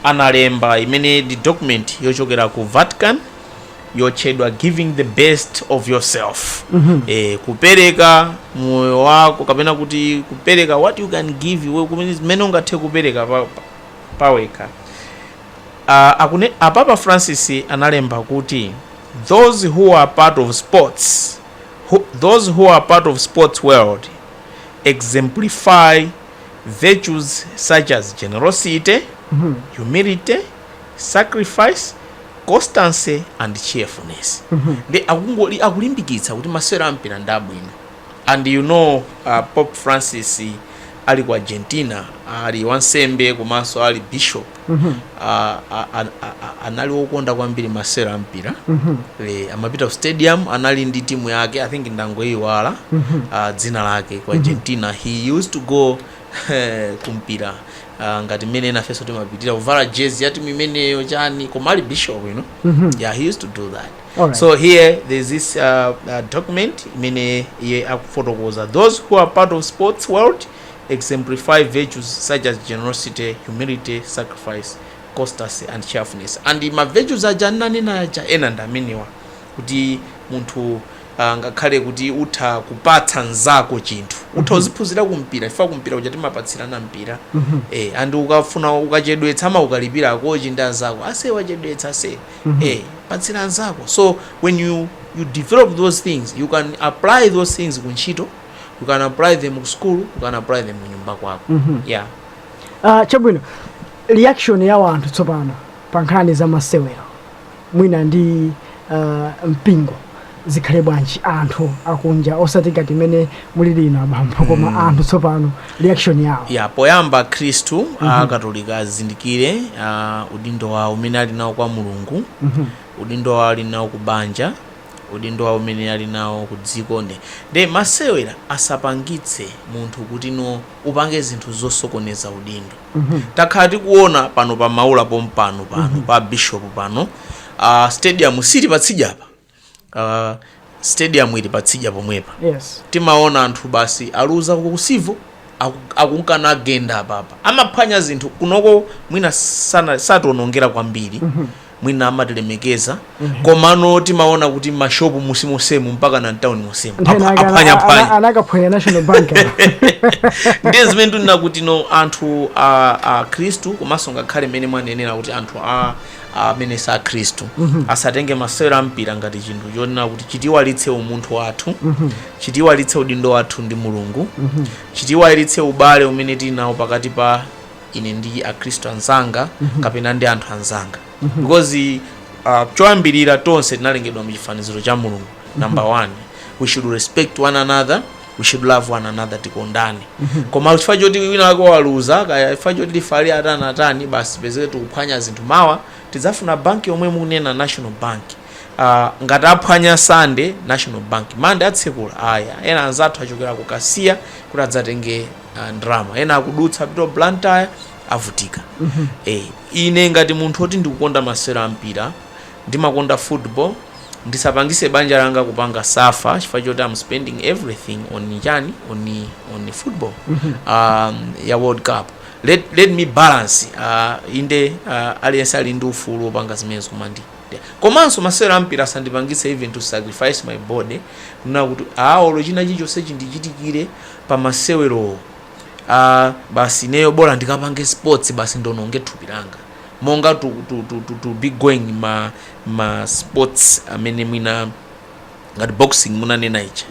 analemba imene ndi document yochokera ku vatican yotchedwa giving the best of yourself mm -hmm. e, kupereka moyo wako kapena kuti kupereka what you can give iwe kumene zimene ungathe kupereka pa- pa- pawekha Ah, akune- apapa francis analemba kuti those who are part of sports who, those who are part of sports world exemplify virtues such as generosity humility sacrifice constancy and cheerfulness nde akungoli akulimbikitsa kuti masewero ampira ndi abwino and you know uh, pope francis ali ku argentina ali wansembe komanso ali bishop uh, a- a- a- a- anali wokonda kwambiri masewero ampira Eh, amapita ku stadium anali ndi timu yake i think ndangoiwala uh, dzina lake ku argentina he used to go eh, kumpira Ah, ngati mmene nafenso timapitira kuvala jezi ya timu imeneyo chani koma ali bishop you know Mhm. yeah he used to do that Alright. so here there's this uh, uh, document imene iye akufotokoza those who are part of sports world exemplify virtues such as generosity humility sacrifice constancy and cheerfulness and ma virtues aja ananena aja ena ndi amenewa kuti munthu angakhale kuti utha kupatsa mnzako chinthu utha uziphunzira kumpira chifukwa kumpira kuja timapatsirana mpira eh, and ukafuna ukachedwetsa amakukalipira akochi ndi anzako ase wachedwetsa ase eh, patsira mnzako so when you, you develop those things you can apply those things ku ntchito you can apply them ku school you can apply them kunyumba kwako yeah Ah, chabwino reaction ya wanthu tsopano pa nkhani za masewero mwina ndi uh, mpingo zikhale bwanji anthu akunja osati ngati mmene muli inu abambo koma mm. anthu tsopano reaction yawo ya poyamba akhristu mm -hmm. akatolika azindikire uh, udindo wawo umene ali nawo kwa mulungu mm -hmm. udindo wawo ali nawo ku banja udindo wawo umene ali nawo ku dziko nde nde masewero asapangitse munthu kuti no upange zinthu zosokoneza udindo takhala tikuona pano pa maula pompano pano pa bishop pano uh, stadium ili patsidya apa uh, stadium ili patsidya pomwepa yes timaona anthu basi aluza ku Civo akungogenda apapa amaphwanya zinthu kunoko mwina sana- sationongera kwambiri mwina amatilemekeza komano timaona kuti mashopu monsemonsemu mpaka na mtauni monsemu Nthena ake ana- aphwanyaphwanya ana- anakaphwanya national bank ndiye zimene ndinena kuti no anthu a, akhristu komanso ngakhale mmene mwanenera kuti anthu a amene si akhristu asatenge masewero a mpira ngati chinthu chonena kuti chitiiwalitse umunthu wathu chitiiwalitse udindo wathu ndi mulungu chitiiwalitse ubale umene tili nawo pakati pa ine ndi akhristu anzanga kapena ndi anthu anzanga because uh, choyambirira tonse tinalengedwa mu chifaniziro cha mulungu number one we should respect one another we should love one another tikondane koma chifukwa choti wina wake waluza kaya chifukwa choti lifali watani watani basi pezeke tikuphwanya zinthu mawa tidzafuna banki yomwe mukunena national bank uh, ngati aphwanya sande national bank mande atsekula ayi ena anzathu achokera ku kasiya kuti adzatenge ah, ndalama ena akudutsa apita ku blantyre avutika eh, ine ngati munthu oti ndikukonda masewero a mpira ndimakonda football ndisapangise banja langa kupanga suffer chifukwa choti am spending everything on chani on, on football um, ya world cup let, let me balance uh, inde uh, aliyense ali ndi ufulu wopanga zimenezo koma ndi ndi- komanso masewero ampira asandipangise even to sacrifice my body kunena kuti olo china chilichonse chindichitikire pa masewerowo aa basi ineyo bola ndikapange sports basi ndiononge thupi langa monga to, to, to, to, to be going ma, ma sports amene mwina ngati boxing munanena ija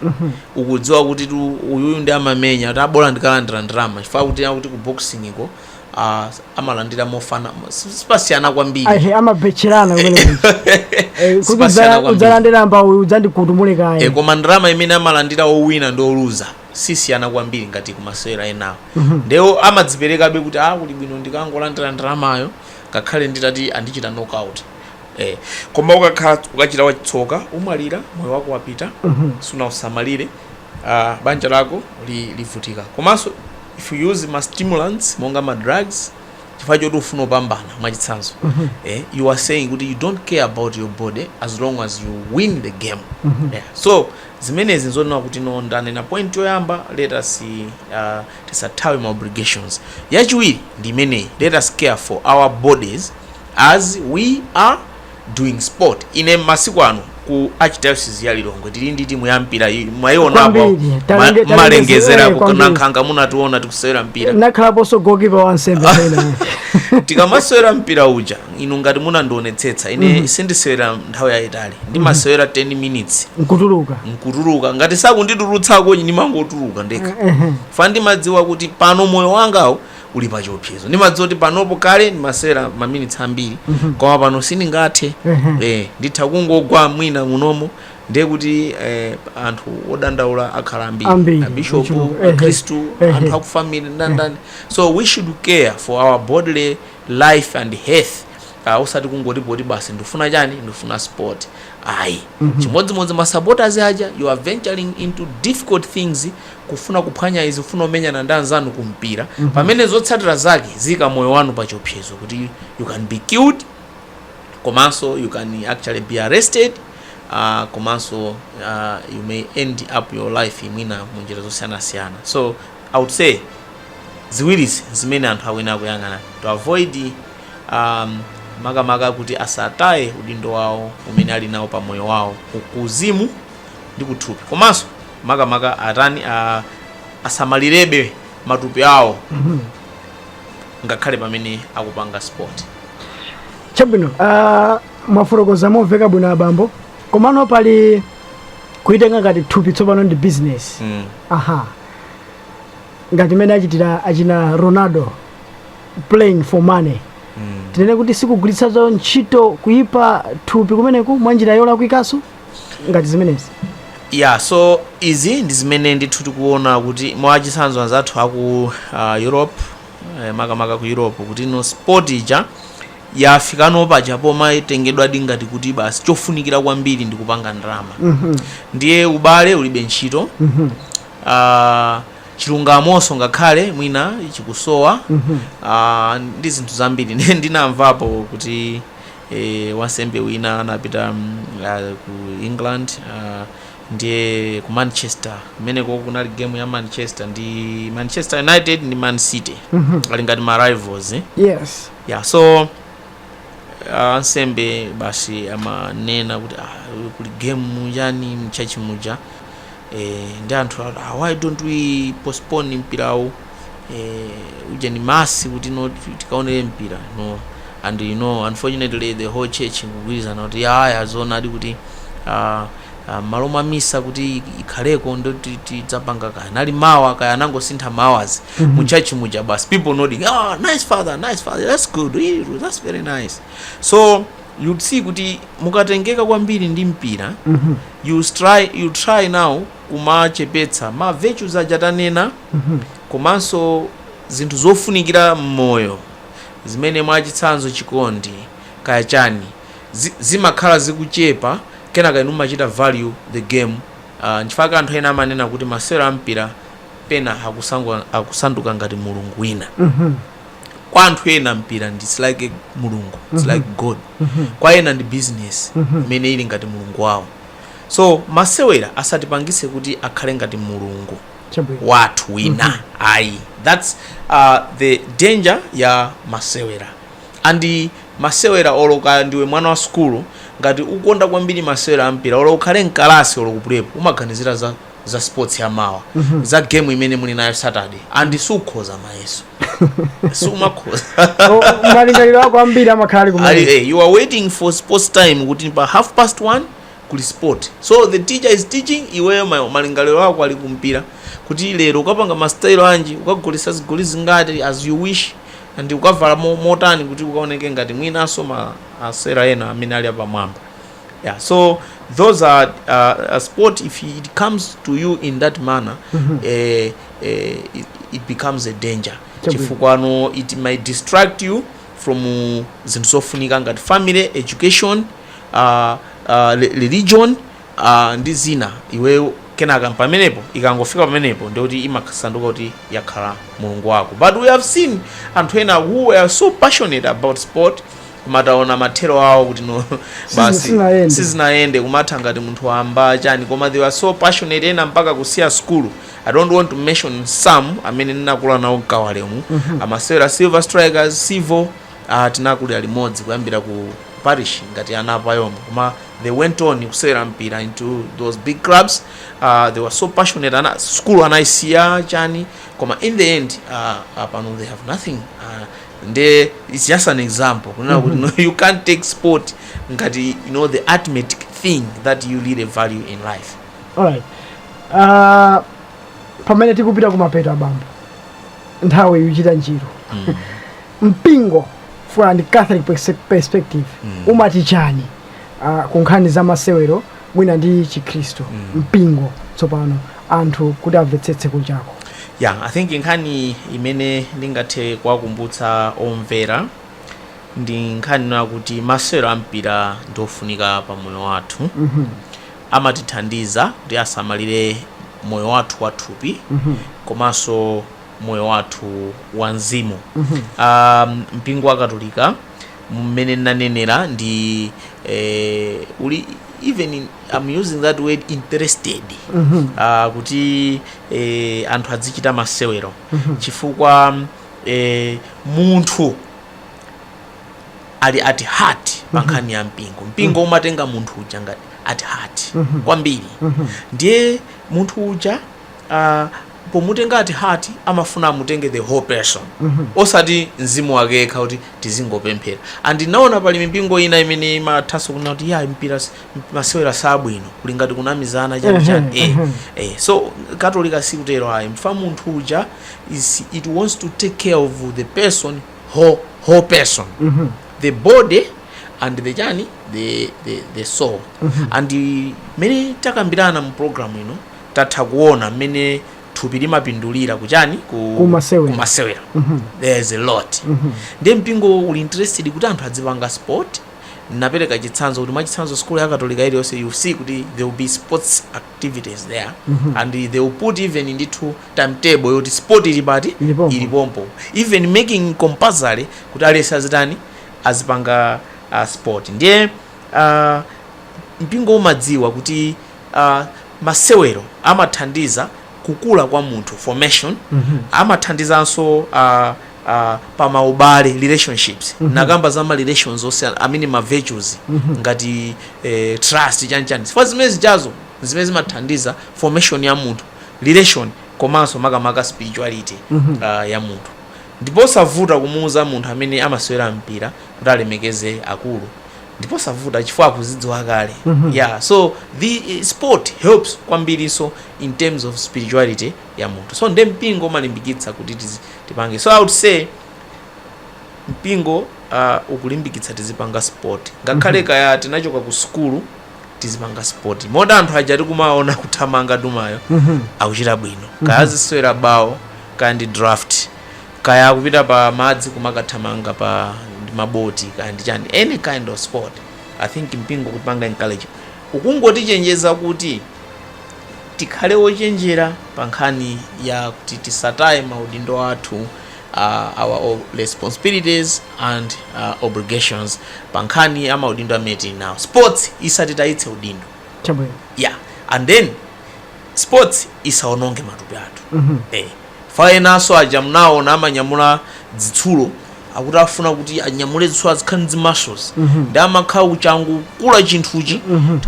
ukudziwa kutitu uyuyu ndi amamenya kuti a bola ndikalandira ndalama chifukwa kuti akuti ku boxing ko ah, amalandira mofana si- sipasiyana kwambiri ahe amabetcherana kumene Sipasiyana kudzala kwambiri. udzalandira mbama udzandikutumule e, kaye koma ndalama imene amalandira owina ndi oluza sisiyana kwambiri ngati kumasewera enawo nde iwo amadziperekabe kuti a kuli bwino ndikangolandira ndalamayo ngakhale nditati andichita knockout e, koma ukakhala ukachita wachitsoka umwalira moyo wako wapita sunausamalire ah, banja lako li- livutika komanso if you use ma stimulants monga ma drugs chifukwa choti ukufuna kupambana mwachitsanzo eh, you are saying kuti you don't care about your body as long as you win the game yeah. so zimenezi nzonena kuti no ndanena point yoyamba let us uh, tisathawe ma obligations yachiwiri ndi imeneyi let us care for our bodies as we are doing sport ine masiku ano ku archdiocese ya lilongwe tili ndi timu ya mpira iyi mwaionapo Kwambiri. ma- Talenge- talenge malengezera ziwaya ku- kwambiri. nanga munationa tikusewera mpira nakhalaponso gokipa wansembe pena tikamasewera mpira uja inu ngati munandionetsetsa ine sindisewera nthawi yayitali ndimasewera 10 minutes nkutuluka nkutuluka ngati sakunditulutsako ndimangotuluka ndekha Ehe. chifukwa ndimadziwa kuti pano moyo wangawo uli pa chiopsezo ndimadziwa kuti panopo kale ndimasewera maminitsi ambiri koma pano sindingathe eh, nditha kungogwa mwina munomo ndiye kuti eh, anthu odandaula akhala Ambiri, ambiri abishopu ochuluka, ehe, akhristu ehe. anthu akufamily ndandani so we should care for our bodily life and health uh, usati kungoti poti basi ndifuna chani ndifuna sport ayi chimodzimodzi ma supporters aja you are venturing into difficult things kufuna kuphwanya izi, kufuna kumenyana ndi anzanu ku mpira, pamene zotsatira zake ziika moyo wanu pa chiopsezo kuti you can be killed komanso you can actually be arrested uh, komanso uh, you may end up your life mwina mu njira zosiyanasiyana so i would say ziwirizi zimene anthu akuyenera kuyang'ana to avoid um, makamaka kuti asataye udindo wawo umene ali nawo pa moyo wawo ku- kuuzimu ndi kuthupi komanso makamaka atani a, asamalirebe matupi awo ngakhale pamene akupanga sport chabwino ah, mwafotokoza momveka bwino abambo komano pali kuitenga ngati thupi tsopano ndi business mm. aha ngati imene achitira achina ronaldo playing for money Mm. tinene kuti sikugwiritsa ntchito kuyipa thupi kumeneku mwa njira yolakwikanso ngati zimenezi ya so izi ndi zimene ndithu tikuona kuti mwachitsanzo anzathu aku uh, europe eh, makamaka ku europe kuti no sport ija yafikano paja pomaitengedwadi ngati kuti basi chofunikira kwambiri ndi kupanga ndalama Mhm. ndiye ubale ulibe ntchito Mhm. Ah, chilungamonso ngakhale mwina chikusowa Mhm. Ah, ndi zinthu zambiri Ndi- ndinamvapo kuti Wansembe wina anapita ku England ndiye ku Manchester kumeneko kunali game ya Manchester ndi Manchester United ndi Man City ali ngati ma rivals eh? yes yeah so ah, ansembe basi amanena kuti ah, kuli game muchani mchachi muja Eee nde anthu ati ah why don't we postpone mpirawu eeh ujeni mass kuti tikaonere mpira no and you know unfortunately the whole church ikugwirizana kuti yaya zoonadi kuti ah, ah, m'malo mwa misa kuti ikhaleko ndo ti- tidzapanga kaya nali mawa kaya anangosintha ma hours mu church muja basi people nodding ah nice father nice father that's good Eh, that's very nice so you'd see kuti mukatengeka kwambiri ndi mpira You stry you try now kumachepetsa ma virtues aja tanena komanso zinthu zofunikira mmoyo zimene mwachitsanzo chikondi kaya chani zi, zimakhala zikuchepa kenaka inu mumachita value the game uh, nchifukwa anthu ena amanena kuti masewero ampira pena akusangu- akusanduka ngati mulungu wina kwa anthu ena mpira ndi it's like mulungu it's like god kwa ena ndi business imene ili ngati mulungu wawo so masewera asatipangitse kuti akhale ngati mulungu chabwino wathu wina ayi thats uh, the danger ya masewera and masewera oloka ndiwe mwana wa sukulu ngati ukonda kwambiri masewera ampira olo ukhale mkalasi olo kupulepo umaganizira za za sports ya mawa za game imene muli nayo saturday and sukhoza mayeso sumakhoza Oh, malingaliro ako ambiri amakhala ali Ali- kumene eh, you are waiting for sports time kuti pa half past one kuli sport so the teacher is teaching iweyo ma- malingaliro ako ali kumpira kuti lero ukapanga mastyle anji ukagoletsa zigoli zingati as you wish and ukavala mo- motani kuti ukaoneke ngati mwinanso ma asera ena amene ali apamwamba yeah so those are uh, a sport if it comes to you in that manner eh, eh, it, it becomes a danger Chabwino. chifukwa it might distract you from uh, zinthu zofunika ngati family education uh, uh, re- religion uh, ndi zina iweyo kenaka pamenepo ikangofika pamenepo ndikuti imasanduka kuti yakhala mulungu wako but we have seen anthu ena who are so passionate about sport koma taona mathero awo kuti no basi sizinayende. sizinayende kumatha ngati munthu wamba chani koma they were so passionate ena mpaka kusiya skulu i don't want to mention some amene ndinakula nawo mkawalemu amasewera silver strikers civil uh, tinakulira limodzi kuyambira ku parish ngati ana apayoniya koma they went on kusewera mpira into those big clubs uh, they were so passionate ana skulu anayisiya chani koma in the end uh, uh, pano they have nothing uh, nde its just an example kunena kuti no, you can't take sport ngati you know the ultimate thing that you really value in life alright Ah, pamene tikupita kumapeto abambo nthawi ikuchita njiru mpingo from a catholic perse- perspective umati chani ah, ku nkhani za masewero mwina ndi chikhristu mpingo tsopano anthu kuti amvetsetse kunjako ya i think nkhani imene ndingathe kuwakumbutsa omvera ndi nkhani ino yakuti masewero ampira ndi ofunika pa moyo wathu amatithandiza kuti tisamalire moyo wathu wathupi komanso moyo wathu wa mzimu um, mpingo wa katolika mmene nanenera ndi eh, uli even in, I'm using that word interested uh, kuti eh, anthu adzichita masewero chifukwa eh, munthu ali at heart pa nkhani ya mpingo mpingo umatenga munthu uja ngati at heart kwambiri ndiye munthu uja uh, Pomutenga at heart amafuna amutenge the whole person osati mzimu wake yekha kuti tizingopemphera and ndinaona pali mipingo ina imene imathanso kunena kuti ya mpira si- masewera sabwino kuli ngati kunamizana chani chani eh, eh. so katolika sikutero ayi chifukwa munthu uja is, it wants to take care of the person whole, whole person the body and the chani the, the, the soul and uh, mene takambirana mu program ino tatha kuona mmene thupi limapindulira kuchani ku, Kumasewera. kumasewera. there is a lot ndiye mpingo uli interested kuti anthu adzipanga sport ndapereka chitsanzo kuti mwachitsanzo sukulu ya katolika iliyonse you see kuti there will be sports activities there and they will put even ndithu timetable yoti sport ili pati Ili pompo. ili pompo even making compulsory kuti aliyense azitani azipanga uh, sport ndiye uh, mpingo umadziwa kuti a masewero amathandiza kukula kwa munthu formation amathandizanso a a pa maubale relationships ndakamba za ma relations onse amene ma virtues ngati eh, trust chanichani chifukwa zimene zijazo zimene zimathandiza formation ya munthu relation komanso makamaka spirituality ah, ya munthu ndipo savuta kumuuza munthu amene amasewera mpira kuti alemekeze akulu ndipo savuta chifukwa akuzidziwa kale mm -hmm. yeah so the eh, sport helps kwambirinso in terms of spirituality ya munthu so nde mpingo umalimbikitsa kuti tipange so i would say mpingo uh, ukulimbikitsa tizipanga sport ngakhale mm -hmm. kaya tinachoka ku sukulu tizipanga sport moti anthu aja tikumaona kuthamanga Duwayo mm -hmm. akuchita bwino kaya mhm. azisewera bawo kaya ndi draft kaya akupita pa madzi kumakathamanga pa ndi maboti kaya ndi chani any kind of sport i think mpingo ukutipanga encourage ukungotichenjeza kuti tikhale ochenjera pa nkhani ya kuti tisataye maudindo athu uh, our o- responsibilities and uh, obligations pa nkhani ya maudindo amene tili nawo sports isatitayitse udindo chabwino yeah and then sports isaononge matupi athu eh chifukwa enaso aja munaona amanyamula dzitsulo akuti afuna kuti anyamule dzitsulo azikhala ndi muscles ndi amakhala kuchangokula chinthuchi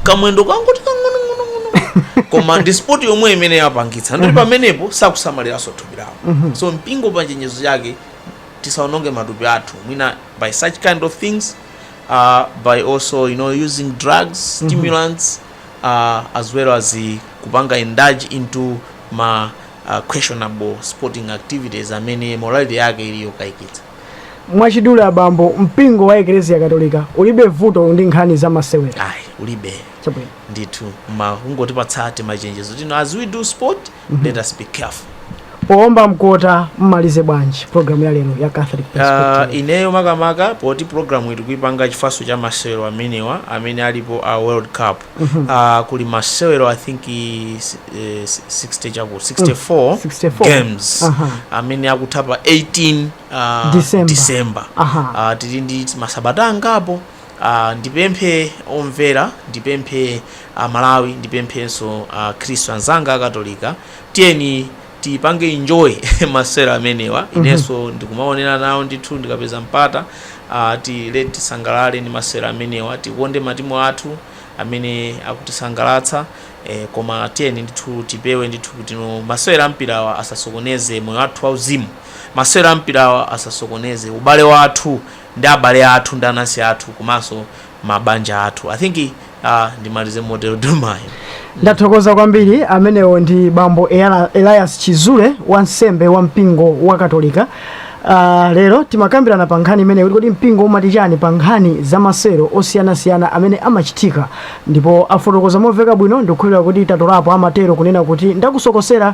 kamwendo kangoti kang'onong'onong'ono koma ndi sport yomweyo imene yapangitsa ndiye kuti pamenepo sakusamaliranso thupi lawo so mpingo pa chenjezo chake tisaononge matupi athu mwina by such kind of things uh, by also you know using drugs stimulants uh, as well as kupanga indulge into ma uh, questionable sporting activities amene morality yake ili yokayikitsa mwachidule abambo mpingo wa eklesia katolika ulibe vuto ndi nkhani za masewero ayi ulibe Chabwino. ndithu koma kungotipatsa timachenjezo ti no as we do sport Mhm. Let us be careful. Poomba mkota mmalize bwanji program ya lero ya Catholic ah, Perspective. Uh, ineyo makamaka poti programuyi tikuipanga chifukwanso cha masewero amenewa amene alipo a World Cup. Mm -hmm. uh, kuli masewero I think is, eh, 60 chaku 64, 64 games. Uh -huh. Amene akutha pa 18 uh, December. December. Uh -huh. uh, tili ndi masabata angapo Aaa ndipemphe omvera ndipemphe a Malawi ndipemphenso a khristu anzanga a katolika tiyeni tipange enjoy masewero amenewa inenso ndikumaonera nawo ndithu ndikapeza mpata aaa tiye tisangalale ndi masewero amenewa tikonde matimu athu amene akutisangalatsa eh, koma tiyeni ndithu tipewe ndithu kuti masewero a mpirawa asasokoneze moyo wathu wauzimu masewero a mpirawa asasokoneze ubale wathu ndi abale athu ndi anansi athu komanso mabanja athu i think uh, ndimalize motero domayo ndathokoza kwambiri amenewo ndi bambo Elias Chizule wansembe wa mpingo wa katolika Uh, lero timakambirana pa nkhani imeneyi kuti kodi mpingo umati chani pa nkhani za masewero osiyanasiyana amene amachitika ndipo afotokoza momveka bwino ndikukhulupirira kuti tatolapo amatero kunena kuti ndakusokosera